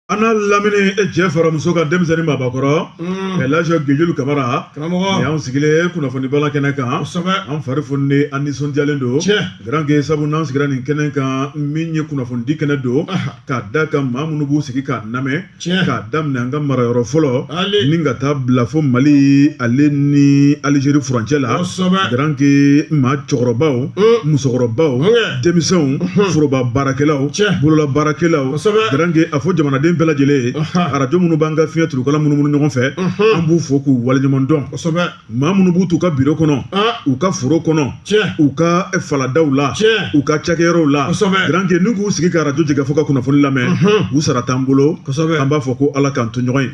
a n'a lamini e cɛ fara muso kan denmisɛnnin maabakɔrɔ ka laji gejulu kamara karamɔgɔ ni y'an sigilen ye kunnafoni bala kɛnɛ kan kosɛbɛ an fari foninen an nisɔndiyalen don Tiɲɛ. garanke sabu n'an sigira nin kɛnɛ kan min ye kunnafonidi kɛnɛ don Aha. k'a da kan maa minnu b'u sigi k'an namɛn Tiɲɛ. k'a daminɛ an ka marayɔrɔ fɔlɔ Ale. ni ka taa bila fo mali ale ni alizeri furancɛ la Kosɛbɛ. garanke maa cɛkɔrɔbaw Mm. musokɔrɔbaw Ɔnkɛ. denmisɛnw foroba baarakɛlaw bolola baarakɛlaw garange a fɔ jamanaden bɛɛ lajɛlen ye arajo minnu b'an ka fiɲɛ turukala munumunu ɲɔgɔn fɛ an b'u fo k'u waleɲuman dɔn maa minnu b'u t'u ka biro kɔnɔ u ka foro kɔnɔ u ka faladaw la u ka cakɛyɔrɔw la garange ni k'u sigi ka arajo jɛkafɔ ka kunnafoni lamɛn u sara t'an bolo an b'a fɔ ko ala k'an to ɲɔgɔn ye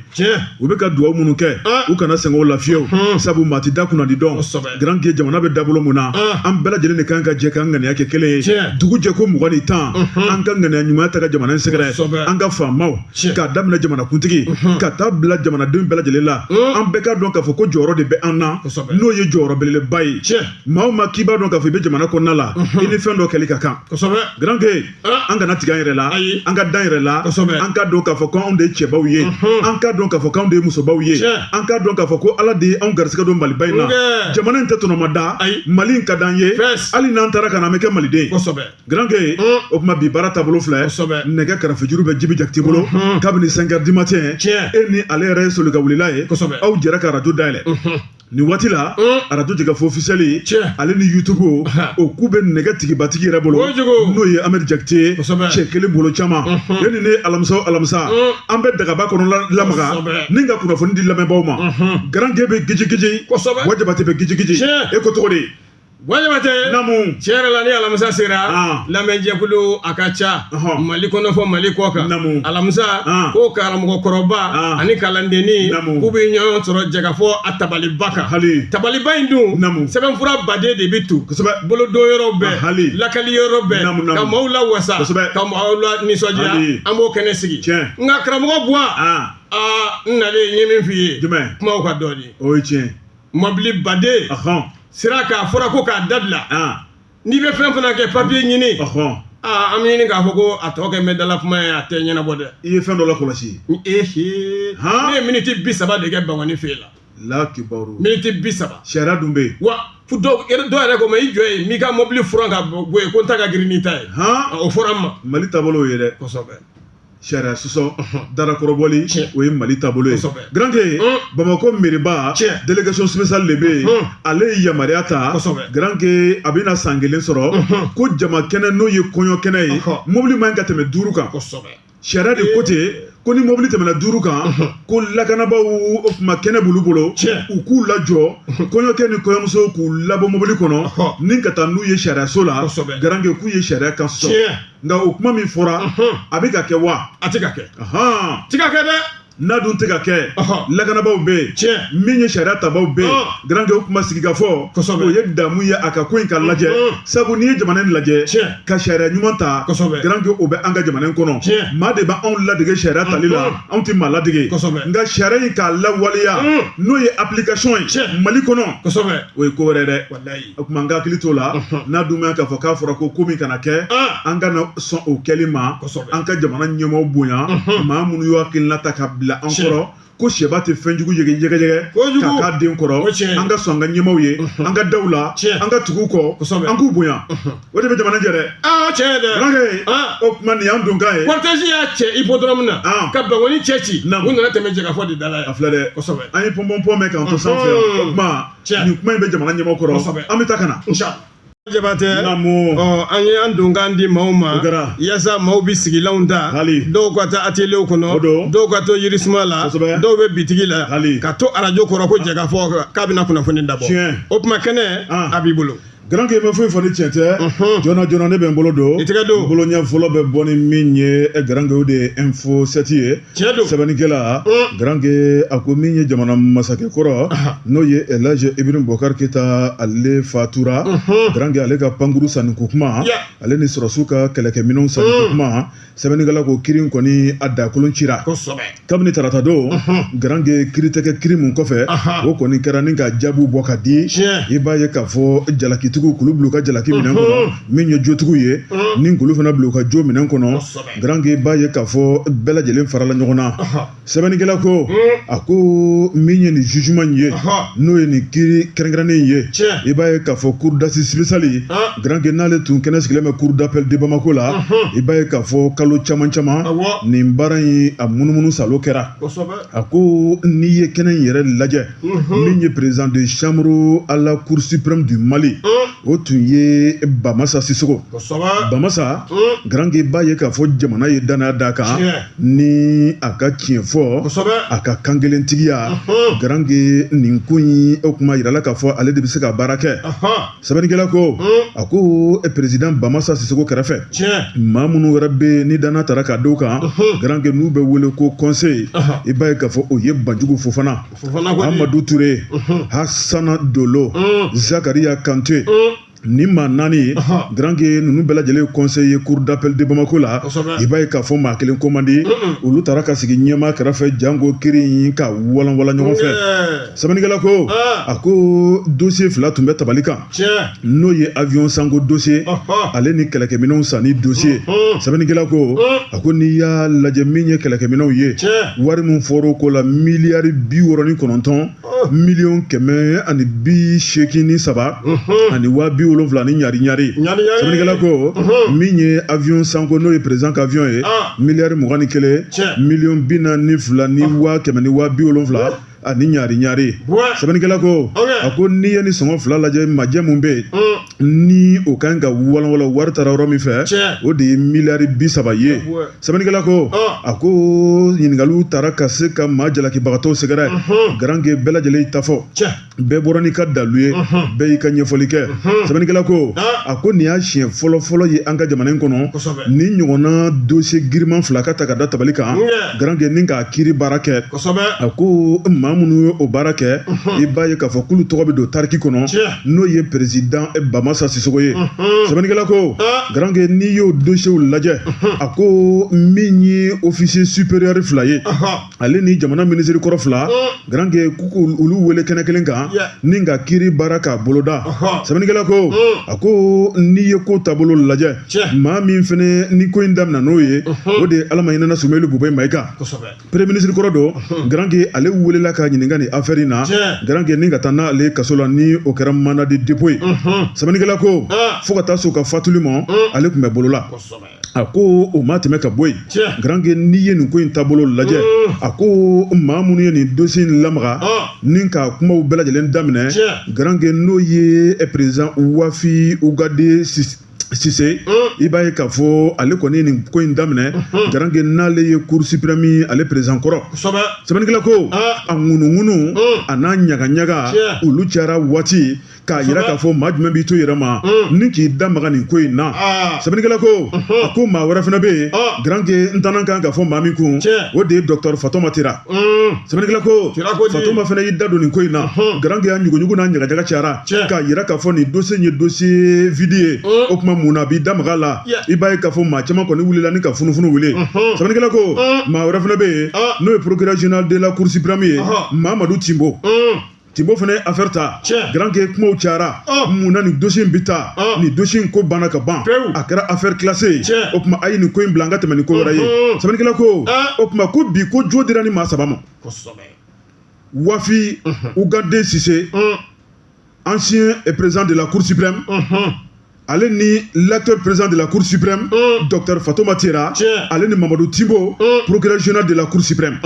u bɛ ka dugawu minnu kɛ u kana sɛgɛn o la fiyewu sabu maa tɛ da kunnadi dɔn garanke jamana bɛ dabolo mun na an bɛɛ lajɛlen de kan ka jɛ k'an ŋaniya kɛ kelen ye dugu jɛ ko mugan ni tan an ka ŋaniya ɲuman ta ka jamana in sɛgɛrɛ an ka faamaw k'a daminɛ jamanakuntigi ka taa bila jamanadenw bɛɛ lajɛlen la an bɛɛ ka dɔn k'a fɔ ko jɔyɔrɔ de bɛ an na n'o ye jɔyɔrɔ belebeleba ye maa o maa k'i b'a dɔn k'a fɔ i bɛ jamana kɔnɔna la i ni fɛn dɔ kɛli ka kan garanke an kana tigɛ an yɛrɛ la an ka d'an yɛrɛ la an ka dɔn k'a fɔ ko anw de ye cɛbaw ye an ka dɔn k'a fɔ ko anw de ye musobaw ye an ka dɔn k'a fɔ ko ala de ye anw garisigɛ don maliba in na jamana in tɛ tɔnɔmada mali in ka d'an ye hali n'an taara ka na an bɛ kɛ maliden garanke o tuma bi baara taabolo filɛ nɛgɛ karafejuru bɛ jibi jakite bolo kabini cinq heures du matin e ni ale yɛrɛ ye solika wulila ye aw jɛra ka arajo dayɛlɛ nin waati la arajo jɛkafɔ officiel ale ni youtube o ko bɛ nɛgɛ tigibatigi yɛrɛ bolo n'o ye amɛdi jakite cɛ kelen bolo caman e ni ne alamisa o alamisa an bɛ dagaba kɔnɔ lamaga ni ka kunnafoni di lamɛnbaaw ma garange bɛ gijigiji buwa jabate bɛ gijigiji e ko cogo di Buwa jabate namu tiɲɛ yɛrɛ la ni alamisa sera lamɛnjɛkulu a ka ca mali kɔnɔ fo mali kɔkan alamisa ko karamɔgɔkɔrɔba ani kalandennin k'u bɛ ɲɔgɔn sɔrɔ jɛkafɔ ka tabaliba kan hali tabaliba in dun sɛbɛnfura baden de bɛ tu bolodon yɔrɔ bɛ hali lakali yɔrɔ bɛ ka maaw lawasa ka maaw lanisɔndiya an b'o kɛnɛ sigi n nka karamɔgɔ buwa n nalen n ye min f'i ye kumaw ka dɔɔnin o ye tiɲɛ mɔbili baden sira kan a fɔra ko k'a dabila n'i bɛ fɛn fana kɛ papiye ɲini an bɛ ɲini k'a fɔ ko a tɔ kɛ mɛ dala kuma ye a tɛ ɲɛnabɔ dɛ i ye fɛn dɔ lakɔlɔsi ehe ne ye miniti bi saba de kɛ bankoni fɛ la lakibaru miniti bi saba sariya dun bɛ yen wa fo dɔw dɔw yɛrɛ ko n ma i jɔ yen n'i ka mɔbili furan ka bɔ yen ko n ta ka girin n'i ta ye o fɔra n ma mali taabolo ye dɛ kosɛbɛ sariya sɔsɔ darakɔrɔbɔli o ye mali taabolo ye garanke bamakɔ mɛriba délégation spéciale de bɛ yen ale ye yamaruya ta garanke a bɛna san kelen sɔrɔ ko jama kɛnɛ n'o ye kɔɲɔ kɛnɛ ye mobili man ka tɛmɛ duuru kan sariya de ko ten ko ni mobili tɛmɛna duuru kan ko lakanabaaw o tuma kɛnɛ b'olu bolo u k'u lajɔ kɔɲɔkɛ ni kɔɲɔmuso k'u labɔ mobili kɔnɔ ni ka taa n'u ye sariyaso la garanke k'u ye sariya kan sɔsɔ nka o kuma min fɔra a bɛ ka kɛ wa a tɛ ka kɛ tɛ ka kɛ dɛ n'a dun tɛ ka kɛ lakanabaaw bɛ yen tiɲɛ min ye sariya tabaaw bɛ yen garankɛ o kuma sigi ka fɔ o ye damu ye a ka ko in ka lajɛ sabu n'i ye jamana in lajɛ ka sariya ɲuman ta garankɛ o bɛ an ka jamana in kɔnɔ maa de bɛ anw ladege sariya tali la anw tɛ maa ladege nka sariya in k'a lawaleya n'o ye application ye mali kɔnɔ o ye ko wɛrɛ dɛ o tuma an ka hakili t'o la n'a dun bɛ k'a fɔ k'a fɔra ko ko min kana kɛ an kana sɔn o kɛli ma an ka jamana ɲɛmaaw bonya maa minnu y'u hakilina ta ka bila an kɔrɔ ko sɛba tɛ fɛn jugu yege yɛgɛyɛgɛ ka k'a den kɔrɔ an ka sɔn an ka ɲɛmaaw ye an ka da u la an ka tugu u kɔ an k'u bonya o de bɛ jamana jɛ dɛ tiɲɛ dɛ o tuma nin y'an donkan ye cortège y'a cɛ Hippodrome na ka Bankoni cɛci u nana tɛmɛ jɛkafɔ de da la yan a filɛ dɛ an ye pɔnpɔnpɔn mɛn k'an to sanfɛ o tuma nin kuma in bɛ jamana ɲɛmaaw kɔrɔ an bɛ taa ka na jabatɛ an ye an donkan di maaw ma yaasa maaw bɛ sigilanw ta dɔw ka to ateliyew kɔnɔ dɔw ka to yirisuma la dɔw bɛ bitigi la ka to arajo kɔrɔ ko jɛkafɔ k'a bɛna kunnafoni dabɔ o tuma kɛnɛ a b'i bolo Garanke i ma foyi fɔ ni tiɲɛ tɛ joona joona ne bɛ n bolo don i tɛgɛ don bolo ɲɛ fɔlɔ bɛ bɔ ni min ye eh, Garanke o de ye info 7 ye tiɲɛ don sɛbɛnnikɛla mm. Garanke a ko min ye jamana masakɛ kɔrɔ n'o ye Elhaji Ibrahim Boubacar Keita ale fatura Garanke ale ka pankuru sanni ko kuma ale ni sɔrɔsiw ka kɛlɛkɛminɛnw sanni ko mm. kuma sɛbɛnnikɛla ko kiri kɔni a dakolon cira kabini tarata don garanke kiri tɛgɛ kiri min kɔfɛ o kɔni kɛra ni ka jaabiw bɔ ka di i b'a ye k'a fɔ jalakitigiw kulu bila u ka jalaki minɛn kɔnɔ min ye jotigiw ye ni kulu fana bila u ka jo minɛn kɔnɔ garanke i b'a ye k'a fɔ bɛɛ lajɛlen farala ɲɔgɔn na sɛbɛnnikɛla ko a ko min ye nin jugement in ye n'o ye nin kiri kɛrɛnkɛrɛnnen in ye i b'a ye k'a fɔ cour d'assises spéciale garanke n'ale tun kɛnɛ sigilen bɛ cour d'appel de Bamako la i b'a ye k'a fɔ kalo caman caman nin baara in a munumunu saalo kɛra a ko n'i ye kɛnɛ in yɛrɛ lajɛ min ye président de chambre à la cour suprême du Mali o tun ye Bamasa Sisoko Bamasa garanke i b'a ye k'a fɔ jamana ye danaya d'a kan ni a ka tiɲɛfɔ a ka kankelentigiya garankɛ nin ko in o kuma jirala k'a fɔ ale de bɛ se ka baara kɛ sɛbɛnnikɛla ko a ko président bamasa sisoko kɛrɛfɛ maa minnu wɛrɛ bɛ ni danaya taara ka d'u kan garankɛ n'u bɛ wele ko conseiller i b'a ye k'a fɔ o ye banjugu fofana amadu ture hasana dolo zakariya kante ni maa naani ye garankɛ ninnu bɛɛ lajɛlen conseiller cour d'appel de bamakɔ la i b'a ye k'a fɔ maa kelen ko man di olu taara ka sigi ɲɛmaa kɛrɛfɛ janko kiri in ka walanwalan ɲɔgɔn fɛ sɛbɛnnikɛla ko a ko dossier fila tun bɛ tabali kan n'o ye avion sanko dossier ale ni kɛlɛkɛminɛnw sanni dossier sɛbɛnnikɛla ko a ko n'i y'a lajɛ min ye kɛlɛkɛminɛnw ye wari min fɔr'o ko la miliyari bi wɔɔrɔ ni kɔnɔntɔn miliyɔn kɛmɛ ani bi seegin ni saba ani waa bi wolonwula ni ɲari ɲari sɛbɛnnikɛla ko min ye avion sanko n'o ye président ka avion ye miliyari mugan ni kelen miliyɔn bi naani ni fila ni waa kɛmɛ ni waa bi wolonwula ani ɲari ɲari sɛbɛnnikɛla ko a ko n'i ye nin sɔngɔ fila lajɛ majɛ mun bɛ yen ni o kan ka walanwalan wari taara yɔrɔ min fɛ o de ye miliyari bi saba ye sɛbɛnnikɛla ko a ko ɲininkaliw taara ka se ka maa jalakibagatɔw sɛgɛrɛ garankɛ bɛɛ lajɛlen y'i ta fɔ bɛɛ bɔra n'i ka dalu ye bɛɛ y'i ka ɲɛfɔli kɛ sɛbɛnnikɛla ko a ko nin y'a siɲɛ fɔlɔfɔlɔ ye an ka jamana in kɔnɔ nin ɲɔgɔnna dossier giriman fila ka ta ka da tabali kan garankɛ ni k'a kiri baara kɛ a ko maa minnu ye o baara kɛ i b'a ye k'a fɔ k'olu tɔgɔ bɛ don tariki kɔnɔ n'o ye président eh, bamasa sisoko ye mhm. sɛbɛnnikɛla ko ah. garankɛ n'i y'o dosiyew lajɛ mhm. a ko min ye officier supérieur fila ye ale ni jamana minisiri kɔrɔ fila mhm. garankɛ k'olu wele kɛnɛ kelen kan ni ka kiri baara k'a boloda sɛbɛnnikɛla ko a ko n'i ye ko taabolo lajɛ maa min fana nin ko in daminɛ n'o ye o de ye ala ma hinɛ a la sumeyilu bubɛyi mayiga premier ministre kɔrɔ don garankɛ ale welela ka ɲininka nin affaire in na garankɛ ni ka taa n'ale kaso la ni o kɛra mandat de dépôt ye sɛbɛnnikɛla ko fo ka taa se o ka fatuli ma ale tun bɛ bolola a ko o ma tɛmɛ ka bɔ yen garankɛ n'i ye nin ko in taabolo lajɛ a ko maa minnu ye nin dossier in lamaga ni k'a kumaw bɛɛ lajɛlen daminɛ garankɛ n'o ye président wafi ugade Sise i b'a ye k'a fɔ ale kɔni ye nin ko in daminɛ garankɛ n'ale ye cour suprême ale président kɔrɔ sɛbɛnnikɛla ko a ŋunuŋunu a n'a ɲagaɲaga olu cayara waati k'a jira k'a fɔ maa jumɛn b'i to yɛrɛ ma ni k'i da maga nin ko in na sɛbɛnnikɛla ko a ko maa wɛrɛ fana bɛ yen garankɛ n tɛna kan ka fɔ maa min kun o de ye docteur fatoma tera sɛbɛnnikɛla ko fatoma fana y'i da don nin ko in na garanke y'a ɲuguɲugu n'a ɲagaɲaga cayara k'a yira k'a fɔ nin dossier ye dossier vide ye o tuma mun na a b'i da maga la i b'a ye k'a fɔ maa caman kɔni wulila ni ka funufunu wuli sɛbɛnnikɛla ko maa wɛrɛ fana bɛ yen n'o ye procureur général de la cour suprême ye mamadu timbo Timbo fana ye affaire ta garanke kumaw cayara ah. mun na nin dossier in bɛ taa ah. nin dossier in ko banna ka ban a kɛra affaire classée ye o tuma a ye nin ko in bila an ka tɛmɛ ni ko wɛrɛ ye sɛbɛnnikɛla ko ah. o tuma ko bi ko jo dira ni maa saba ma wafi ugade sise ancien président de la cour suprême ale ni l'actuel président de la cour suprême mm. docteur fatoma tera ale ni mamadou timbo mm. procureur général de la cour suprême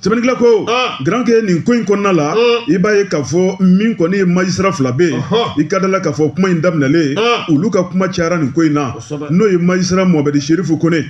sɛbɛnnikɛla ko ah. garanke nin ko in kɔnɔna la mm. i b'a ye k'a fɔ min kɔni ye magistrat fila bɛ yen i ka da la k'a fɔ kuma in daminɛlen ah. olu ka kuma cayara nin ko in na n'o ye magistrat mohamɛdi serifu kone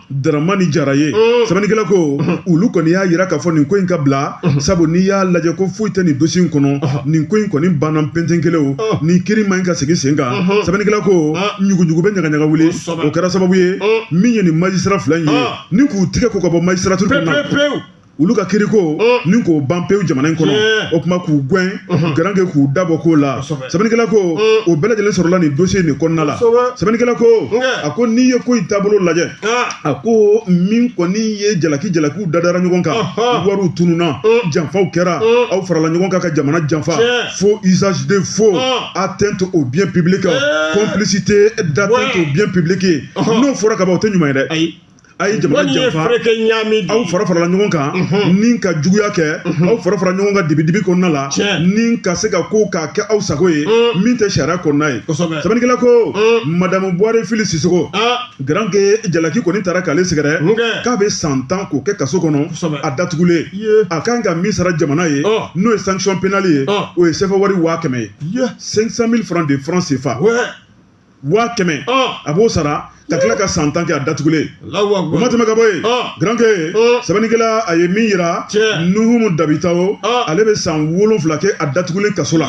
daramani jara ye mm. sɛbɛnnikɛla ko mm-hmm. olu kɔni y'a yira k'a fɔ nin ko in ka bila mm-hmm. sabu n'i y'a lajɛ ko foyi tɛ nin dossier in kɔnɔ mm-hmm. nin ko in kɔni banna penten kelen o mm. nin kiri man ɲi ka segin sen kan sɛbɛnnikɛla ko mm. ɲuguɲugu bɛ ɲagaɲaga wuli o kɛra sababu ye min ye nin magistrat fila in ye ni k'u tigɛ ko ka bɔ magistrature kɔnɔ olu ka kiriko ni k'o ban pewu jamana in kɔnɔ o tuma k'u gɛn garanke k'u da bɔ ko la sɛbɛnnikɛla ko o bɛɛ lajɛlen sɔrɔla nin dossier nin kɔnɔna la sɛbɛnnikɛla ko a ko n'i ye ko in taabolo lajɛ a ko min kɔni ye jalaki jalakiw dadara ɲɔgɔn kan wariw tununna janfaw kɛra aw farala ɲɔgɔn kan ka jamana janfa faux usage de faux atteinte au bien public complicité d'atteinte au bien public n'o fɔra ka ban o tɛ ɲuman ye dɛ a ye jamana janfa aw fara farala ɲɔgɔn kan mhm. ni ka juguya kɛ mhm. aw fara fara ɲɔgɔn kan dibidibi kɔnɔna la ni ka se ka ko k'a kɛ aw sago ye mm. min tɛ sariya kɔnɔna ye sɛbɛnnikɛla ko mm. madamu buware fili sisogo ah. garanke jalaki kɔni taara k'ale sɛgɛrɛ k'a bɛ san tan k'o kɛ kaso kɔnɔ a datugulen a kan ka min sara jamana ye oh. n'o ye sanction pénale ye oh. o ye sɛfɛ wari waa kɛmɛ ye 500 000 francs de francs CFA waa kɛmɛ a b'o sara ka tila ka san tan kɛ a datugulen o ma tɛmɛ ka bɔ yen garanke sɛbɛnnikɛla a ye min yira nuhumu dabitao ale bɛ san wolonwula kɛ a datugulen kaso la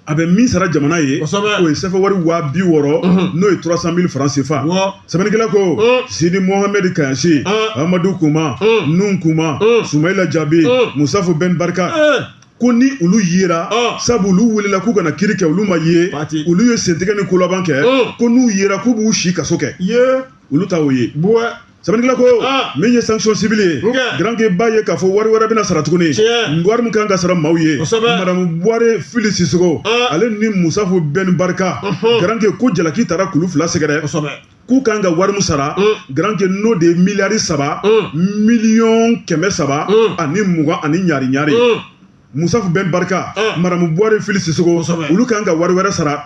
a bɛ min sara jamana ye o ye sɛfɛ wari waa bi wɔɔrɔ n'o ye trois cent mille franc CFA sɛbɛnnikɛla ko Sidi Mohamed Kaɲasi Amadu Kuma Nuhun Kuma Sumayila Jabi Musafu Bɛn Barika ko ni olu yera ah. sabu olu welela k'u ka na kiri kɛ olu ma ye olu ye sentigɛ ni kolaban kɛ ah. ko n'u yera k'u b'u si kaso kɛ olu ta o ye sɛbɛnnikɛla ko ah. min ye sanction civile ye garanke b'a ye k'a fɔ wari wɛrɛ bɛna sara tuguni wari min kan ka sara maaw ye madamu buware fili sisogo ale ni musafu bɛn barika garanke ko jalaki taara k'olu fila sɛgɛrɛ k'u kan ka wari min sara mm. garanke n'o de ye miliyari saba mm. miliyɔn kɛmɛ saba mm. ani mugan ani ɲari ɲari musafu bɛn barika madamu buware fili sisogo olu kan ka wari wɛrɛ sara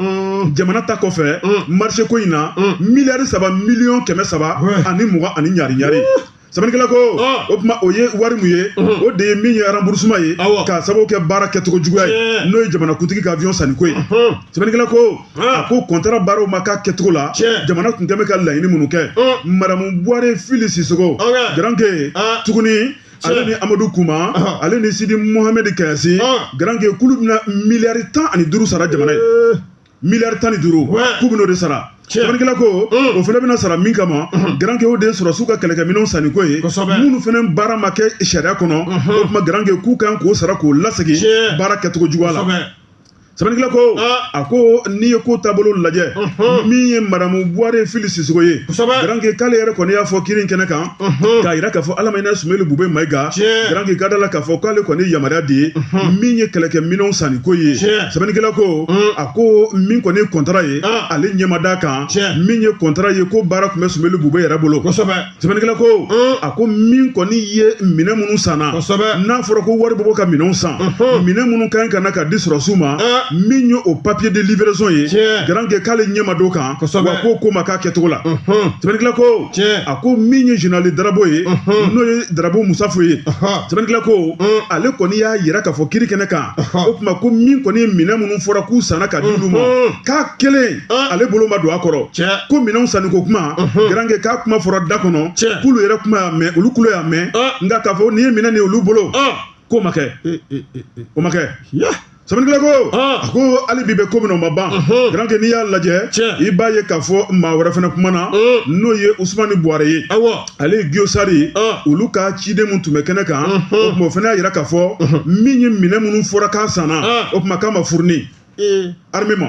jamana ta kɔfɛ marché ko in na miliyari saba miliyɔn kɛmɛ saba ani mugan ani ɲari ɲari sɛbɛnnikɛla ko o tuma o ye wari mun ye o de ye min ye remboursement ye k'a sababu kɛ baara kɛcogo juguya ye n'o ye jamanakuntigi ka avion sanni ko ye sɛbɛnnikɛla ko a ko kɔntara baaraw ma k'a kɛcogo la jamana tun kɛ bɛ ka laɲini minnu kɛ madamu buware fili sisogo garanke tuguni ale ni amadu kuma ale ni sidi muhamɛdi kaɲasi garanke k'olu bɛna miliyari tan ani duuru sara jamana ye miliyari tan ni duuru k'u bɛn'o de sara sɛbɛnnikɛla ko mm. o fana bɛna sara min kama mm-hmm. garanke o de ye sɔrɔsiw ka kɛlɛkɛminɛnw sanni ko ye minnu fana baara ma kɛ sariya kɔnɔ mm-hmm. o tuma garanke k'u kan k'o sara k'o lasegin baara kɛcogo juguya la sɛbɛnnikɛla ko ah. a ko n'i ye ko taabolo lajɛ mm-hmm. min ye madamu buware fili sisogo ye garanke k'ale yɛrɛ kɔni y'a fɔ kiri kɛnɛ kan k'a yira k'a fɔ ala ma hina sumeli bube mayiga garanke ka da la k'a fɔ k'ale kɔni yamaruya di min ye kɛlɛkɛ minɛnw sanni ko ye sɛbɛnnikɛla ko a ko min kɔni ye kɔntara ye ale ɲɛ ma d'a kan min ye kɔntara ye ko baara tun bɛ sumeli bube yɛrɛ bolo sɛbɛnnikɛla ko a ko min kɔni ye minɛn minnu sanna n'a fɔra ko wari bɛ bɔ ka minɛnw san minɛn minnu ka ɲi ka na ka di sɔrɔsiw ma min ye o papier de livraison ye garanke k'ale ɲɛ ma d'o kan wa k'o ko ma k'a kɛcogo la sɛbɛnnikɛla ko Tiɲɛ. a ko min ye général Darabo ye Unhun. n'o ye Darabo Musafo ye Ahan. sɛbɛnnikɛla ko Un. ale kɔni y'a yira k'a fɔ kiri kɛnɛ kan Ahan. o tuma ko min kɔni ye minɛn minnu fɔra k'u sanna ka di olu ma Unhun. k'a kelen Un. ale bolo ma don a kɔrɔ Tiɲɛ. ko minɛnw sanniko kuma Unhun. garanke k'a kuma fɔra da kɔnɔ Tiɲɛ. k'olu yɛrɛ kuma y'a mɛn olu kulo y'a mɛn Un. nka k'a fɔ nin ye minɛn nin ye olu bolo Ɔn. k'o ma kɛ Eh, eh, eh, eh. o ma kɛ Ya. sɛbɛnnikɛla ko a ko hali bi bɛ ko min na o ma ban garanke n'i y'a lajɛ i b'a ye k'a fɔ maa wɛrɛ fana kumana n'o ye usumani buware ye ale ye giyosari olu ka ciden min tun bɛ kɛnɛ kan o tuma o fana y'a yira k'a fɔ min ye minɛn minnu fɔra k'a sanna o tuma k'a ma fourni armée ma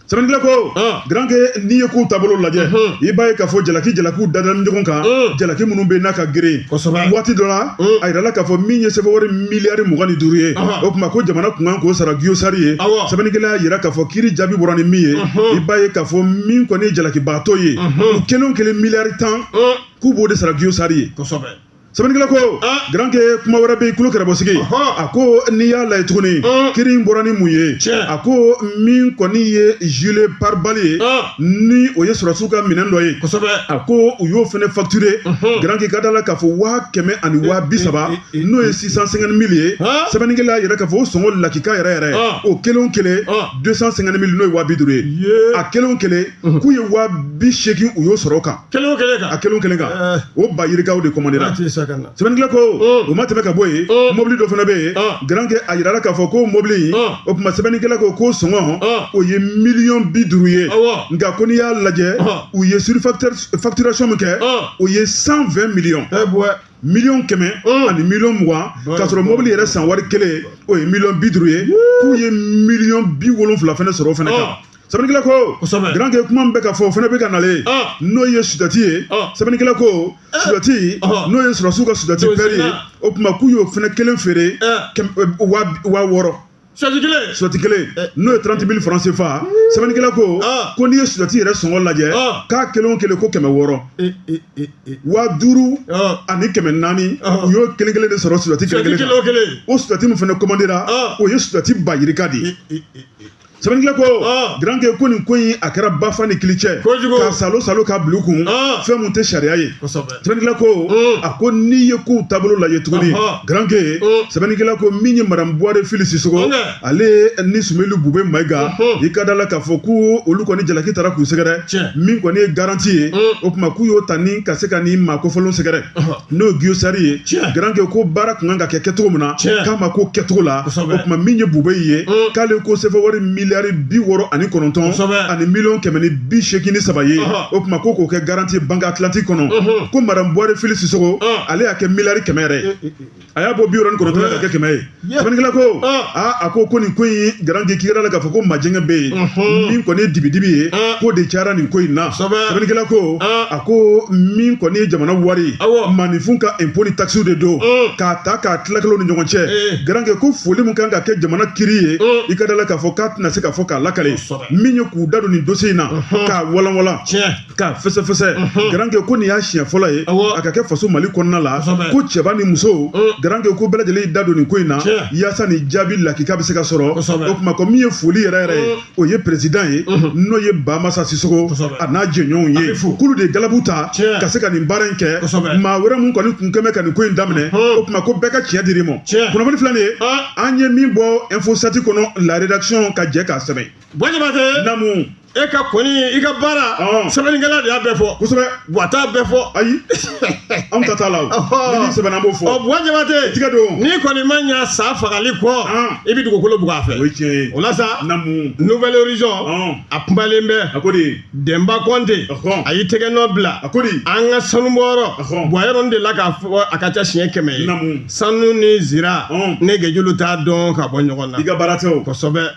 sɛbɛnnikɛla ko garanke n'i ye kow taabolo lajɛ i b'a ye k'a fɔ jalaki jalakiw dadala ɲɔgɔn kan jalaki minnu bɛ n'a ka geren waati dɔ la a yirala k'a fɔ min ye sefawari miliyari mugan ni duuru ye o tuma ko jamana kun kan k'o sara giyosari ye sɛbɛnnikɛla y'a yira k'a fɔ kiri jaabi bɔra ni min ye i b'a ye k'a fɔ min kɔni ye jalakibaatɔ ye u kelen o kelen miliyari tan k'u b'o de sara giyosari ye sɛbɛnnikɛla ko garankɛ kuma wɛrɛ bɛ yen kulo kɛrɛbɔsigi a ko n'i y'a lajɛ tuguni kiri in bɔra ni mun ye a ko min kɔni ye gilet pare-balles ye ni o ye sɔrɔsiw ka minɛn dɔ ye a ko u y'o fana facturé garankɛ ka da la k'a fɔ waa kɛmɛ ani waa bi saba n'o ye six cent cinquante mille ye sɛbɛnnikɛla yɛrɛ k'a fɔ o sɔngɔ lakika yɛrɛ yɛrɛ o kelen kelen deux cent cinquante mille n'o ye waa bi duuru ye a kelen kelen k'u ye waa bi seegin u y'o sɔrɔ o kan kelen o kelen kan a kelen o kelen kan Eh. o ba yirikaw de kɔmandera a tɛ sa ka na sɛbɛnnikɛla ko Mm. o ma tɛmɛ ka bɔ yen Mm. mobili dɔ fana bɛ yen Ah. garankɛ a yirala k'a fɔ ko mobili in Ah. o tuma sɛbɛnnikɛla ko k'o sɔngɔ Ah. o ye miliyɔn bi duuru ye Awɔ. nka ko n'i y'a lajɛ Ah. u ye surfacturation min kɛ Ah. o ye cent vingt miliyɔn ɛ bɔ miliyɔn kɛmɛ Mm. ani miliyɔn mugan Ba- k'a sɔrɔ ba- mobili yɛrɛ san wari kelen o ye miliyɔn bi duuru ye k'u ye miliyɔn bi wolonfila fana sɔrɔ o fana kan Ah. sɛbɛnnikɛla ko garankɛ kuma min bɛ ka fɔ o fana bɛ ka nalen n'o ye sudati ye sɛbɛnnikɛla ko sudati n'o ye sɔrɔsiw ka sudati pɛri ye o tuma k'u y'o fana kelen feere wa wɔɔrɔ sudati kelen sudati kelen n'o ye trente mille franc CFA sɛbɛnnikɛla ko ko n'i ye sudati yɛrɛ sɔngɔ lajɛ k'a kelen o kelen ko kɛmɛ wɔɔrɔ wa duuru ani kɛmɛ naani u y'o kelen kelen de sɔrɔ sudati kelen kelen o sudati min fana commandera o ye sudati ba yirika de ye sɛbɛnnikɛla ko ah. garankɛ ko nin ko in a kɛra bafa ni kili cɛ ka salo salo ka bila u kun ah. fɛn min tɛ sariya ye sɛbɛnnikɛla ko hmm. a ko n'i ye kow taabolo lajɛ tuguni garankɛ hmm. sɛbɛnnikɛla ko min ye madame buware fili sisoko ale ni sumeli bube mayiga hmm. i ka da la k'a fɔ ko olu kɔni jalaki taara k'u sɛgɛrɛ min kɔni ye garanti ye o tuma k'u y'o ta ni ka se ka nin maa kofɔlenw sɛgɛrɛ n'o ye Guo-Star ye garankɛ ko baara tun kan ka kɛ kɛcogo min na k'a ma k'o kɛcogo la o tuma min ye bube ye mm. k'ale ko sefa wari miliyari bi wɔɔrɔ ani kɔnɔntɔn ani miliyɔn kɛmɛ ni bi seegin ni saba ye o tuma ko k'o kɛ garanti ye banque Atlantique kɔnɔ ko madame buware fili sisoko mm. ale y'a kɛ miliyari kɛmɛ yɛrɛ a y'a bɔ bi wɔɔrɔ ni kɔnɔntɔn na k'a kɛ kɛmɛ ye sɛbɛnnikɛla ko aa a ko ko nin ko in ye garankɛ i ka da la k'a fɔ ko majɛngɛ bɛ yen min kɔni ye dibidibi ye k'o de cayara nin ko in na sɛbɛnnikɛla ko a ko min kɔni ye jamana wari maninfin ka impôt ni taxes de don k'a ta k'a tila kɛlaw ni ɲɔgɔn cɛ garankɛ ko foli min kan ka kɛ jamana kiri ye i ka da la k'a fɔ k'a tɛna se k'a fɔ k'a lakale min ye k'u da don nin dossier in na k'a walanwalan k'a fɛsɛfɛsɛ mhm. garankɛ ko nin y'a siɲɛ fɔlɔ ye a ka kɛ faso mali kɔnɔna la ko cɛba ni muso mhm. garankɛ ko bɛɛ lajɛlen y'i da don nin ko in na yaasa nin jaabi lakika bɛ se ka sɔrɔ o tuma ko min ye foli yɛrɛ yɛrɛ ye mhm. o ye perezidan ye n'o ye bamasa sisoko a n'a jɛɲɔgɔnw ye k'olu de ye galabu ta ka se ka nin baara in kɛ maa wɛrɛ min kɔni kun kɛmɛ ka nin ko in daminɛ o tuma ko bɛɛ ka tiɲɛ dir'i ma kunnafoni filɛ nin ye an ye min bɔ InfoSept kɔnɔ la rédaction ka jɛ k'a sɛbɛn namu e ka kɔni i ka baara sɛbɛnnikɛla de y'a bɛɛ fɔ kosɛbɛ wa t'a bɛɛ fɔ ayi anw ta t'a la o ni sɛbɛnna b'o fɔ ɔ buwa jabate tiɲɛ don n'i kɔni ma ɲa sa fagali kɔ i bɛ dugukolo bugɔ a fɛ o ye tiɲɛ ye o la sa namu nouvel horizon a kumalen bɛ a ko de denba kɔnte a y'i tɛgɛ nɔ bila a ko de an ka sanubɔyɔrɔ buwa yɔrɔ de la k'a fɔ a ka ca siɲɛ kɛmɛ ye namu sanu ni zira ne gɛjulu t'a dɔn ka bɔ ɲɔgɔn na i ka baara tɛ o kosɛbɛ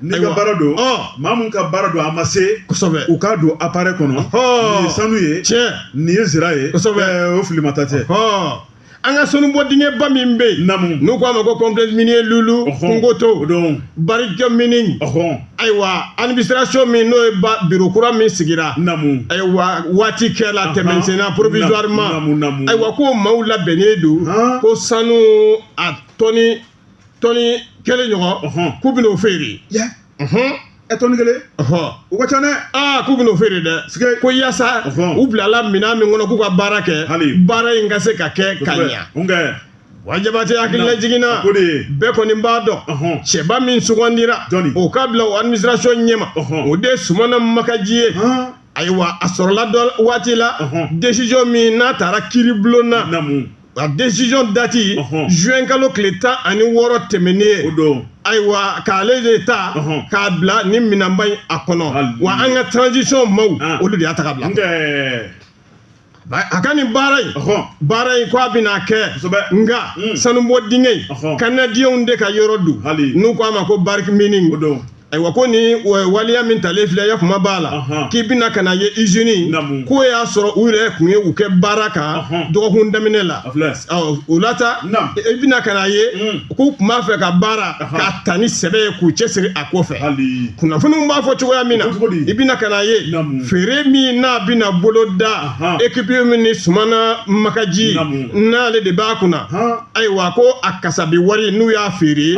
N'i ka baara don maa min ka baara don a ma se u k'a don appareil kɔnɔ nin ye sanu ye nin ye zira ye o fili mata tɛ an ka sanu bɔ dingɛba min bɛ yen n'u k'a ma ko complexe minier lulu kungoto Barrick Mining ayiwa administration min n'o ye biro kura min sigira ayiwa waati kɛ la tɛmɛsenna provisoirement ayiwa ko maaw labɛnnen don ko sanu a tɔni tɔni kelen ɲɔgɔn Ɔhɔn. k'u bɛn'o feere yɛ Ɔhɔn. ɛ tɔni kelen Ɔhɔn. o ka ca dɛ aa k'u bɛn'o feere dɛ Sike. ko yaasa Ɔhɔn. u bilala minɛn min kɔnɔ k'u ka baara kɛ Hali. baara in ka se ka kɛ ka ɲa n kɛ buwa jabate hakililajigin na o de ye bɛɛ kɔni b'a dɔn Ɔhɔn. cɛba min sugandira Jɔnni? o ka bila o administration ɲɛma Ɔhɔn. o de ye sumana makaji ye han ayiwa a sɔrɔla dɔ waati la Ɔhɔn. décision min n'a tara kiiribulon na namu a décision dati juin kalo tile tan ani wɔɔrɔ tɛmɛnen ye o don ayiwa k'ale de ta k'a bila ni minɛnba in a kɔnɔ wa an ka transition maw ah. olu de y'a ta k'a bila a ka nin baara in baara in ko a bɛna kɛ nka hmm. sanubɔ dingɛ in kanadiɲɛw de ka yɔrɔ don n'u ko a ma ko Barrick Mining ayiwa ko ni waleya min talen filɛ ya kuma b'a la k'i bɛna ka na ye izini k'o y'a sɔrɔ u yɛrɛ tun ye u kɛ baara kan dɔgɔkun daminɛ la o la ta i bɛna ka na ye mm. k'u tun b'a fɛ ka baara k'a ta ni sɛbɛ ye k'u cɛsiri a kɔfɛ kunnafoniw b'a fɔ cogoya min na i bɛna ka na ye feere min n'a bɛna bolo da ekipi min ni sumana makaji n'ale de b'a kunna ayiwa ko a kasabi wari n'u y'a feere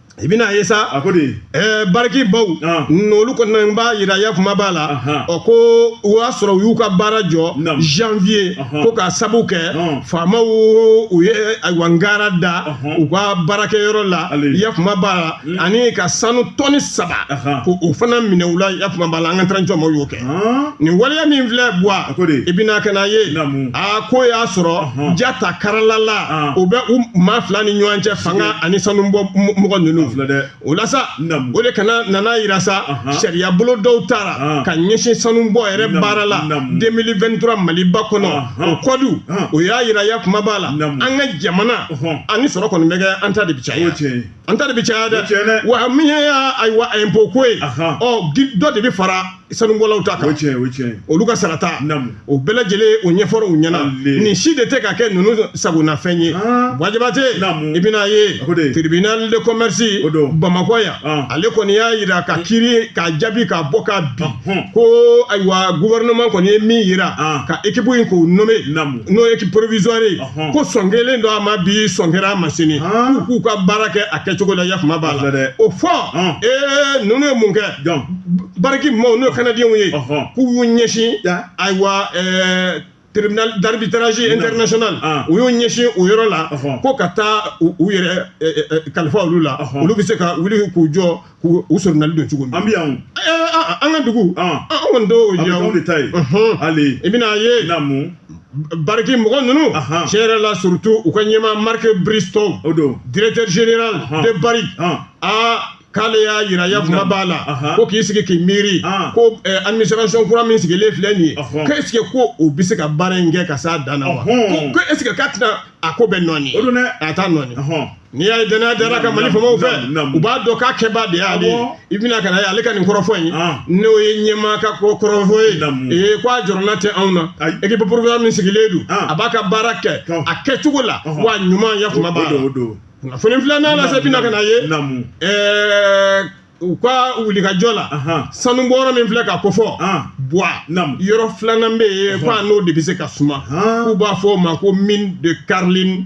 i bɛna ye sa a ko de ɛɛ Barrick maw Ah. n'olu kɔni na n b'a yira ya kuma b'a la Aha. ɔ ko o y'a sɔrɔ u y'u ka baara jɔ Naam. janvier Aha. ko k'a sabu kɛ Ah. faamaw u ye ayiwa ngara da Aha. u ka baarakɛyɔrɔ la Ale. ya kuma b'a la ani ka sanu tɔni saba Aha. ko o fana minɛ u la ya kuma b'a la an ka transition maw y'o kɛ nin waleya min filɛ buwa i bɛna ka na ye a ko y'a sɔrɔ ja ta karalala o bɛ u maa fila ni ɲɔgɔn cɛ fanga ani sanu bɔ mɔgɔ ninnu o la sa o de kana nana yira sa sariya bolo dɔw tara ka ɲɛsin sanu bɔ yɛrɛ baara la 2023 maliba kɔnɔ o kɔdu o y'a yira ya kuma b'a la an ka jamana ani sɔrɔ kɔni bɛ kɛ an ta de bɛ caya an ta de bɛ caya dɛ wa min ye ayiwa impôt ko ye ɔ dɔ de bɛ fara sanubɔlaw ta kan olu ka sarata o bɛɛ lajɛlen o ɲɛfɔra u ɲɛna nin si de tɛ ka kɛ ninnu sagonafɛn ye bua jabate i bɛna ye tribunal de commerce bamakɔ yan ale kɔni y'a jira ka kiri k'a jaabi k'a bɔ k'a bi ko ayiwa gouvernement kɔni ye min jira ka équipe in k'o nommer n'o ye équipe provisoire ye. ko sɔn kɛlen don a ma bi sɔn kɛra a ma sini k'u k'u ka baara kɛ a kɛcogo la yafama b'a la dɛ o fɔ ee ninnu ye mun kɛ Barrick maaw n'o kanadiyɛnw ye k'u y'u ɲɛsin ayiwa tribunal d'arbitrage international u y'u ɲɛsin o yɔrɔ la ko ka taa u yɛrɛ kalifa olu la olu bɛ se ka wuli k'u jɔ k'u u sɔrɔnali don cogo min an bɛ yan o. Ɛɛ, a- a- an ka dugu Ɔn. an an kɔni t'o An bɛ yan o. k'anw de ta ye. Unhun. Hali. i bɛna a ye Na mun? Barrick mɔgɔ ninnu Ahan. tiɲɛ yɛrɛ la surtout u ka ɲɛmaa Mark Bristow O don. directeur général Ahan. de Barrick Ɔn. aa k'ale y'a yira yafama b'a la Ahan. ko k'i sigi k'i miiri Ahan. ko eh, administration kura min sigilen filɛ nin ye Ɔhɔn. ko est ce que ko o bɛ se ka baara in kɛ ka s'a dan na wa Ɔhɔn. ko ko est ce que k'a tɛna a ko bɛ nɔɔni O don dɛ. a t'a nɔɔni Ɔhɔn. n'i y'a ye danaya dara a kan mali faamaw fɛ u b'a dɔn k'a kɛba de y'ale ye i bɛna ka na ye ale ka nin kɔrɔfɔ in n'o ye ɲɛmaa ka ko kɔrɔfɔ ye ee ko a jɔrɔna tɛ anw na équipe provisoire min sigilen don a b'a ka baara kɛ a kɛcogo la wa ɲuman yafama b'a la kunnafoni filanan la sa i bɛna ka na ye ɛɛ u ka wulikajɔ la sanubɔyɔrɔ min filɛ ka kofɔ bua yɔrɔ filanan bɛ yen ko a n'o de bɛ se ka suma k'u b'a fɔ o ma ko mine de Carlin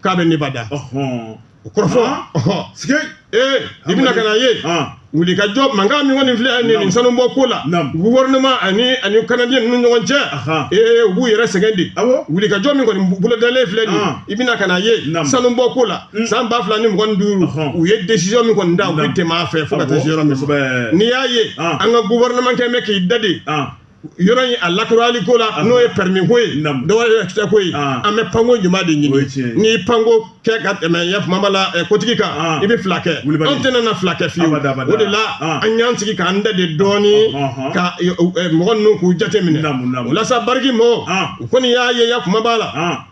k'a bɛ Nevada o kɔrɔfɔ sike ee i bɛna ka na ye wulikajɔ mankan min kɔni filɛ nin nin sanubɔ ko la gouvernement ani ani kanadiyɛn ninnu ni ɲɔgɔn cɛ ee u b'u yɛrɛ sɛgɛn de wulikajɔ min kɔni bolodalen filɛ nin i bɛna ka na ye sanubɔ ko la mm. san ba fila ni mugan ni duuru u ye décision min kɔni ta u bɛ tɛmɛ a fɛ fo ka taa se yɔrɔ min n'i y'a ye ah. an ka gouvernement kɛ bɛ k'i dade ah. yɔrɔ in a lakurali ko la n'o ye permis ko ye dɔwɛrɛ tɛ ko ye an bɛ panko ɲuman de ɲini n'i panko kɛ ka tɛmɛ yafama b'a la kotigi kan i bɛ fila kɛ anw tɛna na fila kɛ fiyewu o de la an y'an sigi k'an dade dɔɔni ka mɔgɔ ninnu k'u jate minɛ o la sa Barrick mɔgɔw kɔni y'a ye yafama b'a la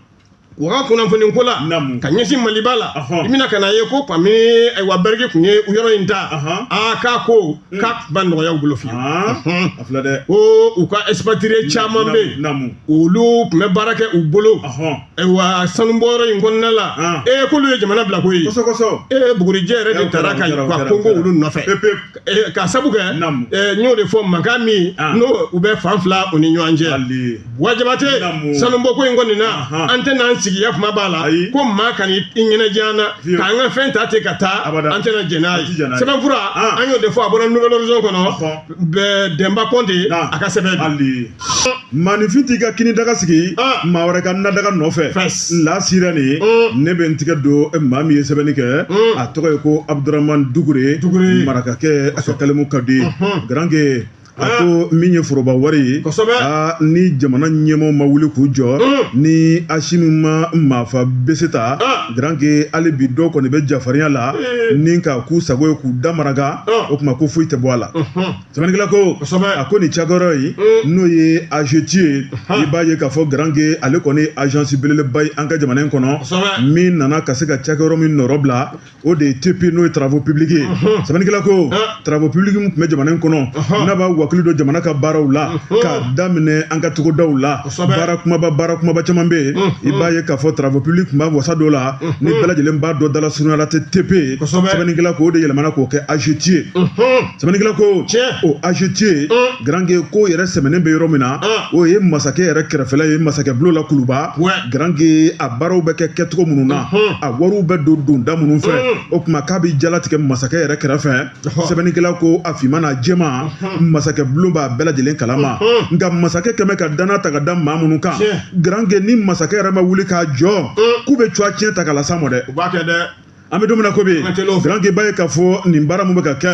u ka kunnafoni ko la ka ɲɛsin maliba la i bɛna ka na ye ko kabini ayiwa Barrick tun ye yɔrɔ in ta aa k'a ko mm. k'a ma nɔgɔya u bolo fiyewu ko u ka expatrié caman bɛ yen olu tun bɛ baara kɛ u bolo ayiwa sanubɔyɔrɔ in kɔnɔna la ee k'olu ye jamana bila ko ye ee bugurijɛ yɛrɛ de taara ka ka gɔngɔn olu nɔfɛ Eh, ka sabu kɛ eh, n y'o de fɔ mankan min ah. n'o u bɛ fan fila u ni ɲɔgɔn cɛ wa jabate sanubɔko in kɔni na an tɛna an sigiya kuma b'a la ko maa ka n'i ɲɛnaja an na k'an ka fɛn ta ten ka taa an tɛna jɛn n'a ye sɛbɛnfura ah. an y'o de fɔ a bɔra nouvel horizon kɔnɔ dɛnba kɔnte a ka sɛbɛn maaninfin t'i ka kini daga sigi maa wɛrɛ ka na daga nɔfɛ la sirène ne bɛ n tigɛ don maa min ye sɛbɛnni kɛ a tɔgɔ ye ko abudurahman dugure marakakɛ a ka kalimu ka di garanke a ko min ye foroba wari ye ni jamana ɲɛmɔgɔw ma wuli k'u jɔ ni asimi ma maafa bese ta garanke hali bi dɔw kɔni bɛ jafarinya la ni ka k'u sago ye k'u da maraka o tuma ko foyi tɛ bɔ a la sɛbɛnnikɛla ko kosɛbɛ a ko nin cakɛyɔrɔ ye mm. n'o ye agetier ye i b'a ye k'a fɔ garange ale kɔni ye agence belebeleba ye an ka jamana in kɔnɔ min nana ka se ka cakɛyɔrɔ min nɔrɔ bila o de ye tp n'o ye travaux publics ye mm-hmm. sɛbɛnnikɛla ko travaux publics min tun bɛ jamana in kɔnɔ mm-hmm. n'a b'a wakili don jamana ka baaraw la mm-hmm. k'a daminɛ an ka togodaw la baara kumaba baara kumaba caman bɛ yen i b'a ye k'a fɔ travaux publics tun b'a wasa don a la ni bɛɛ lajɛlen b'a dɔn dala surunya la tɛ tp sɛbɛnnikɛla ko o de yɛlɛmana k'o kɛ agetier ye sɛbɛnnikɛla ko o agetier garange k'o yɛrɛ sɛmɛnen bɛ yɔrɔ min na o ye masakɛ yɛrɛ kɛrɛfɛla ye masakɛ bulon la kuluba garange a baaraw bɛ kɛ kɛcogo minnu na a wariw bɛ don donda minnu fɛ o tuma k'a bɛ jalatigɛ masakɛ yɛrɛ kɛrɛfɛ sɛbɛnnikɛla ko a finman n'a jɛman masakɛ bulon b'a bɛɛ lajɛlen kalama nka masakɛ kɛlen bɛ ka danna ta ka da maa minnu kan garange ni masakɛ yɛrɛ ma wuli k'a jɔ k'u bɛ cowa tiɲɛ ta ka las'a ma dɛ an bɛ don min na ko bi garanke b'a ye k'a fɔ nin baara min bɛ ka kɛ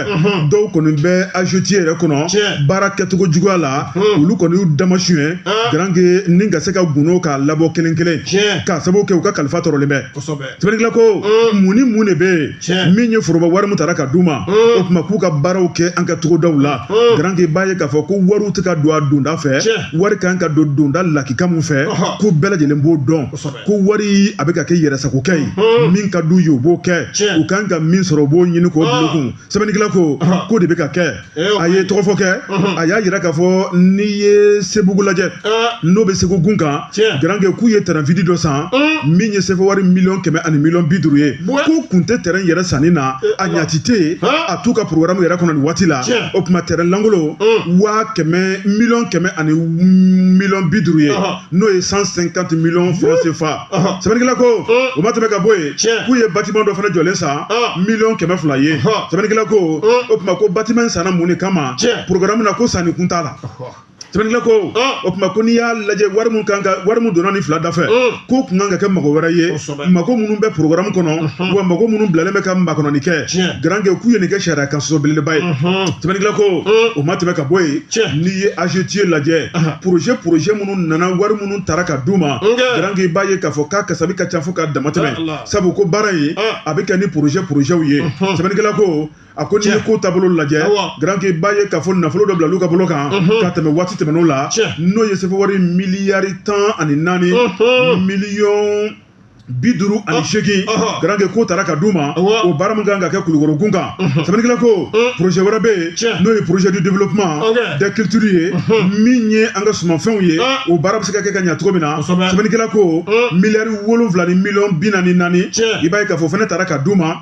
dɔw kɔni bɛ agetier yɛrɛ kɔnɔ baara kɛcogo juguya la olu kɔni y'u damasuɲɛ garanke ni ka se ka gundo k'a labɔ kelen kelen k'a sababu kɛ u ka kalifa tɔrɔlen bɛ sɛbɛnnikɛla ko mun ni mun de bɛ yen min ye foroba wari min tara ka d'u ma o tuma k'u ka baaraw kɛ an ka togodaw la garanke b'a ye k'a fɔ ko wariw tɛ ka don a donda fɛ wari kan ka don donda lakika min fɛ k'u bɛɛ lajɛlen b'o dɔn ko wari a bɛ ka kɛ yɛrɛsagokɛ ye min ka d'u ye u b'o kɛ u kan ka min sɔrɔ u b'o ɲini k'o bil'u kun sɛbɛnnikɛla ko k'o de bɛ ka kɛ a ye tɔgɔfɔ kɛ a y'a jira k'a fɔ n'i ye sebugu lajɛ n'o bɛ segu gun kan garanke k'u ye tɛrɛn vide dɔ san min ye sefa wari miliyɔn kɛmɛ ani miliyɔn bi duuru ye ko kun tɛ tɛrɛn yɛrɛ sanni na a ɲaci tɛ yen a t'u ka porogaramu yɛrɛ kɔnɔ nin waati la o tuma tɛrɛn lankolon waa kɛmɛ miliyɔn kɛmɛ ani miliyɔn bi duuru ye n'o ye 150 millions francs CFA sɛbɛnnikɛla ko o ma tɛmɛ ka bɔ yen k'u ye bâtiment dɔ fana jɔlen san miliyɔn kɛmɛ fila ye sɛbɛnnikɛla ko o tuma ko bâtiment in sanna mun de kama programme na ko sanni kun t'a la sɛbɛnnikɛla ko o tuma ko n'i y'a lajɛ wari min kan ka wari min donna nin fila da fɛ k'o tun kan ka kɛ mago wɛrɛ ye mako minnu bɛ porogramu kɔnɔ wa mako minnu bilalen bɛ ka makɔnɔni kɛ garanke k'u ye nin kɛ sariya kan sɔsɔ belebeleba ye sɛbɛnnikɛla ko o ma tɛmɛ ka bɔ yen n'i ye azetiye lajɛ poroze poroze minnu nana wari minnu tara ka d'u ma garanke i b'a ye k'a fɔ k'a kasabi ka ca fo ka damatɛmɛ sabu ko baara ye a bɛ kɛ ni poroze porozew ye sɛbɛnnikɛla ko a ko n'i ye ko taabolo lajɛ garanke i b'a ye k'a fɔ nafolo dɔ bila olu ka bolo kan ka tɛmɛ waati tɛmɛn'o la n'o ye sefa wari miliyari tan ani naani miliyɔn bi duuru ani seegin garanke k'o tara ka d'u ma o baara min kan ka kɛ kulukoro gun kan sɛbɛnnikɛla ko projet wɛrɛ bɛ yen n'o ye projet du développement de culture ye min ye an ka sumanfɛnw ye o baara bɛ se ka kɛ ka ɲa cogo min na sɛbɛnnikɛla ko miliyari wolonwula ni miliyɔn bi naani ni naani i b'a ye k'a fɔ o fana tara ka d'u ma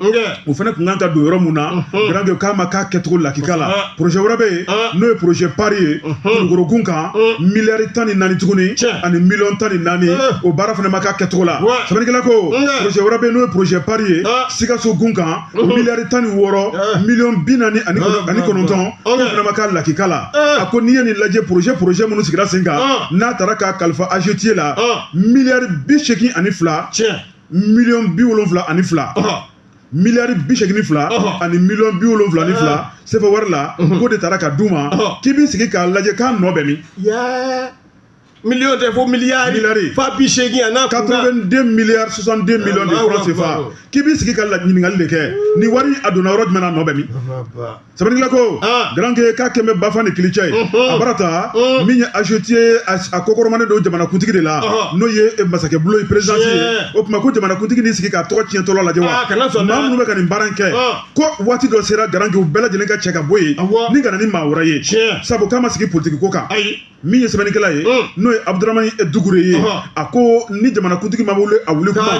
o fana kun kan ka don yɔrɔ min na garanke k'a ma k'a kɛcogo lakika la projet wɛrɛ bɛ yen n'o ye projet pari ye kulukoro gun kan miliyari tan ni naani tuguni ani miliyɔn tan ni naani o baara fana ma k'a kɛcogo la sɛbɛnnikɛla ko projet wɛrɛ bɛ yen n'o ye projet pari ye sikaso gun kan o miliyari tan ni wɔɔrɔ miliyɔn bi naani ani kɔnɔntɔn o fana ma k'a lakika la a ko n'i ye nin lajɛ projet projet minnu sigira sen kan n'a tara k'a kalifa AGETIER la miliyari bi seegin ani fila miliyɔn bi wolonwula ani fila miliyari bi seegin ni fila ani miliyɔn bi wolonwula ni fila sefa wari la k'o de tara ka d'u ma k'i b'i sigi k'a lajɛ k'a nɔ bɛ min miliyɔn tɛ fo miliyari miliyari fa bi seegin a n'a kun na 82 milliards 62 millions de francs CFA k'i b'i sigi ka la ɲininkali de kɛ nin wari a donna yɔrɔ jumɛn na a nɔ bɛ min sɛbɛnnikɛla ko ah. garanke k'a kɛmɛ bafan ni kilicɛ ye a baarada min ye azetiye a kɔkɔrɔmanen don jamanakuntigi de la n'o ye eh, masakɛ bulo ye perezidansi ye o tuma ko jamanakuntigi n'i sigi k'a tɔgɔ tiɲɛtɔla lajɛ wa ah, maa minnu bɛ ka nin baara in kɛ ah. ko waati dɔ sera garanke u bɛɛ lajɛlen ka cɛ ka bɔ yen ni ka na ni maa wɛrɛ ye sabu k'a ma sigi politiki ko kan min ye sɛbɛnnikɛla ye n'o ye abuduramani dukure ye a ko ni jamanakuntigi ma wuli a wuli kuma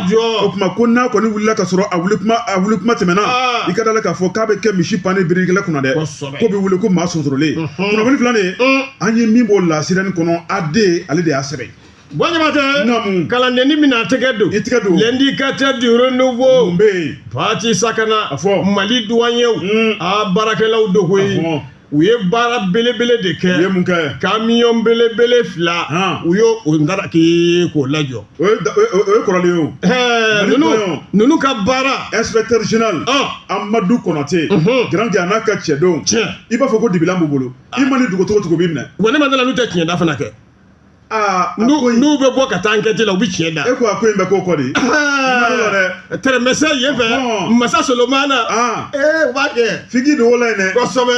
o tuma ko n'a kɔni wulila ka sɔrɔ a wuli kuma tɛmɛna i ka d'a la k'a fɔ k'a bɛ kɛ misi pannen birikɛla kunna dɛ k'o bɛ wuli ko maa sonsorolen kunnafoni filanan an ye min bɔ La Sirène kɔnɔ AD ale de y'a sɛbɛn bɔɲamatɛ kalandenni bɛna tɛgɛ don i tɛgɛ don L'Indicateur du Renouveau mun bɛ yen patisakana a fɔ mali duwanyew mm. a baarakɛlaw don koyi u ye baara belebele de kɛ u ye mun kɛ kamiyɔn belebele fila u y'o o ndaraki k'o lajɔ o ye kɔrɔlen ye o ninnu ninnu ka baara inspecteur général amadu konate garanke a n'a ka cɛdenw i b'a fɔ ko dibilan b'u bolo i man'i dogo cogo cogo u b'i minɛ wa ne ma d'a la n'u tɛ tiɲɛda fana kɛ n'u bɛ bɔ ka taa ankɛti la u bɛ tiɲɛ da e ko a ko in bɛ k'o kɔ de tɛrɛmɛsɛ yen fɛ masa solomana ee u b'a kɛ fiki don o la yen dɛ kosɛbɛ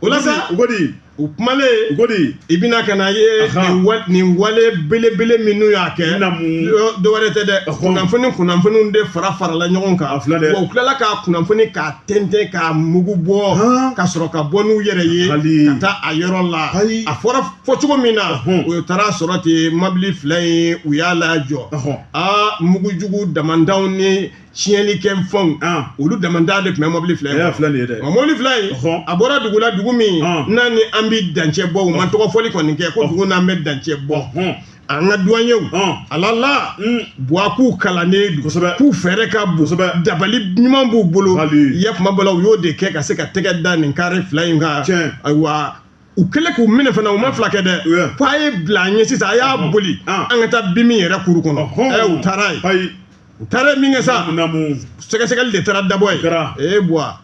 o la sa u ko di u kumalen u ko di i bɛna ka n'a ye nin wale belebele minnu y'a kɛ dɔ wɛrɛ tɛ dɛ kunnafoni kunnafoniw de farafarala ɲɔgɔn kan a filɛ dɛ wa u tilala ka kunnafoni k'a tɛntɛn k'a mugu bɔ ka sɔrɔ ka bɔ n'u yɛrɛ ye ka taa a yɔrɔ la a fɔra fɔ cogo min na u taara a sɔrɔ ten mɔbili fila in u y'a lajɔ aa mugujugu damandanw ni tiɲɛlikɛ fɛnw olu damandan de tun bɛ mɔbili fila in nka mɔbili fila in a bɔra dugu la dugu min n'a ni an bɛ dancɛ bɔ u ma tɔgɔ fɔli kɔni kɛ ko dugu n'an bɛ dancɛ bɔ an ka duwanyew ala la buwa k'u kalannen don kosɛbɛ k'u fɛɛrɛ ka bon kosɛbɛ dabali ɲuman b'u bolo ya kuma b'a la u y'o de kɛ ka se ka tɛgɛ da nin kare fila in kan ayiwa u kɛlen k'u minɛ fana u ma fila kɛ dɛ ko a ye bila an ɲɛ sisan a y'a boli an ka taa BMI yɛrɛ kuru kɔnɔ ɛ u taara yen u taara min kɛ sa sɛgɛsɛgɛli de taara dabɔ yen ee buwa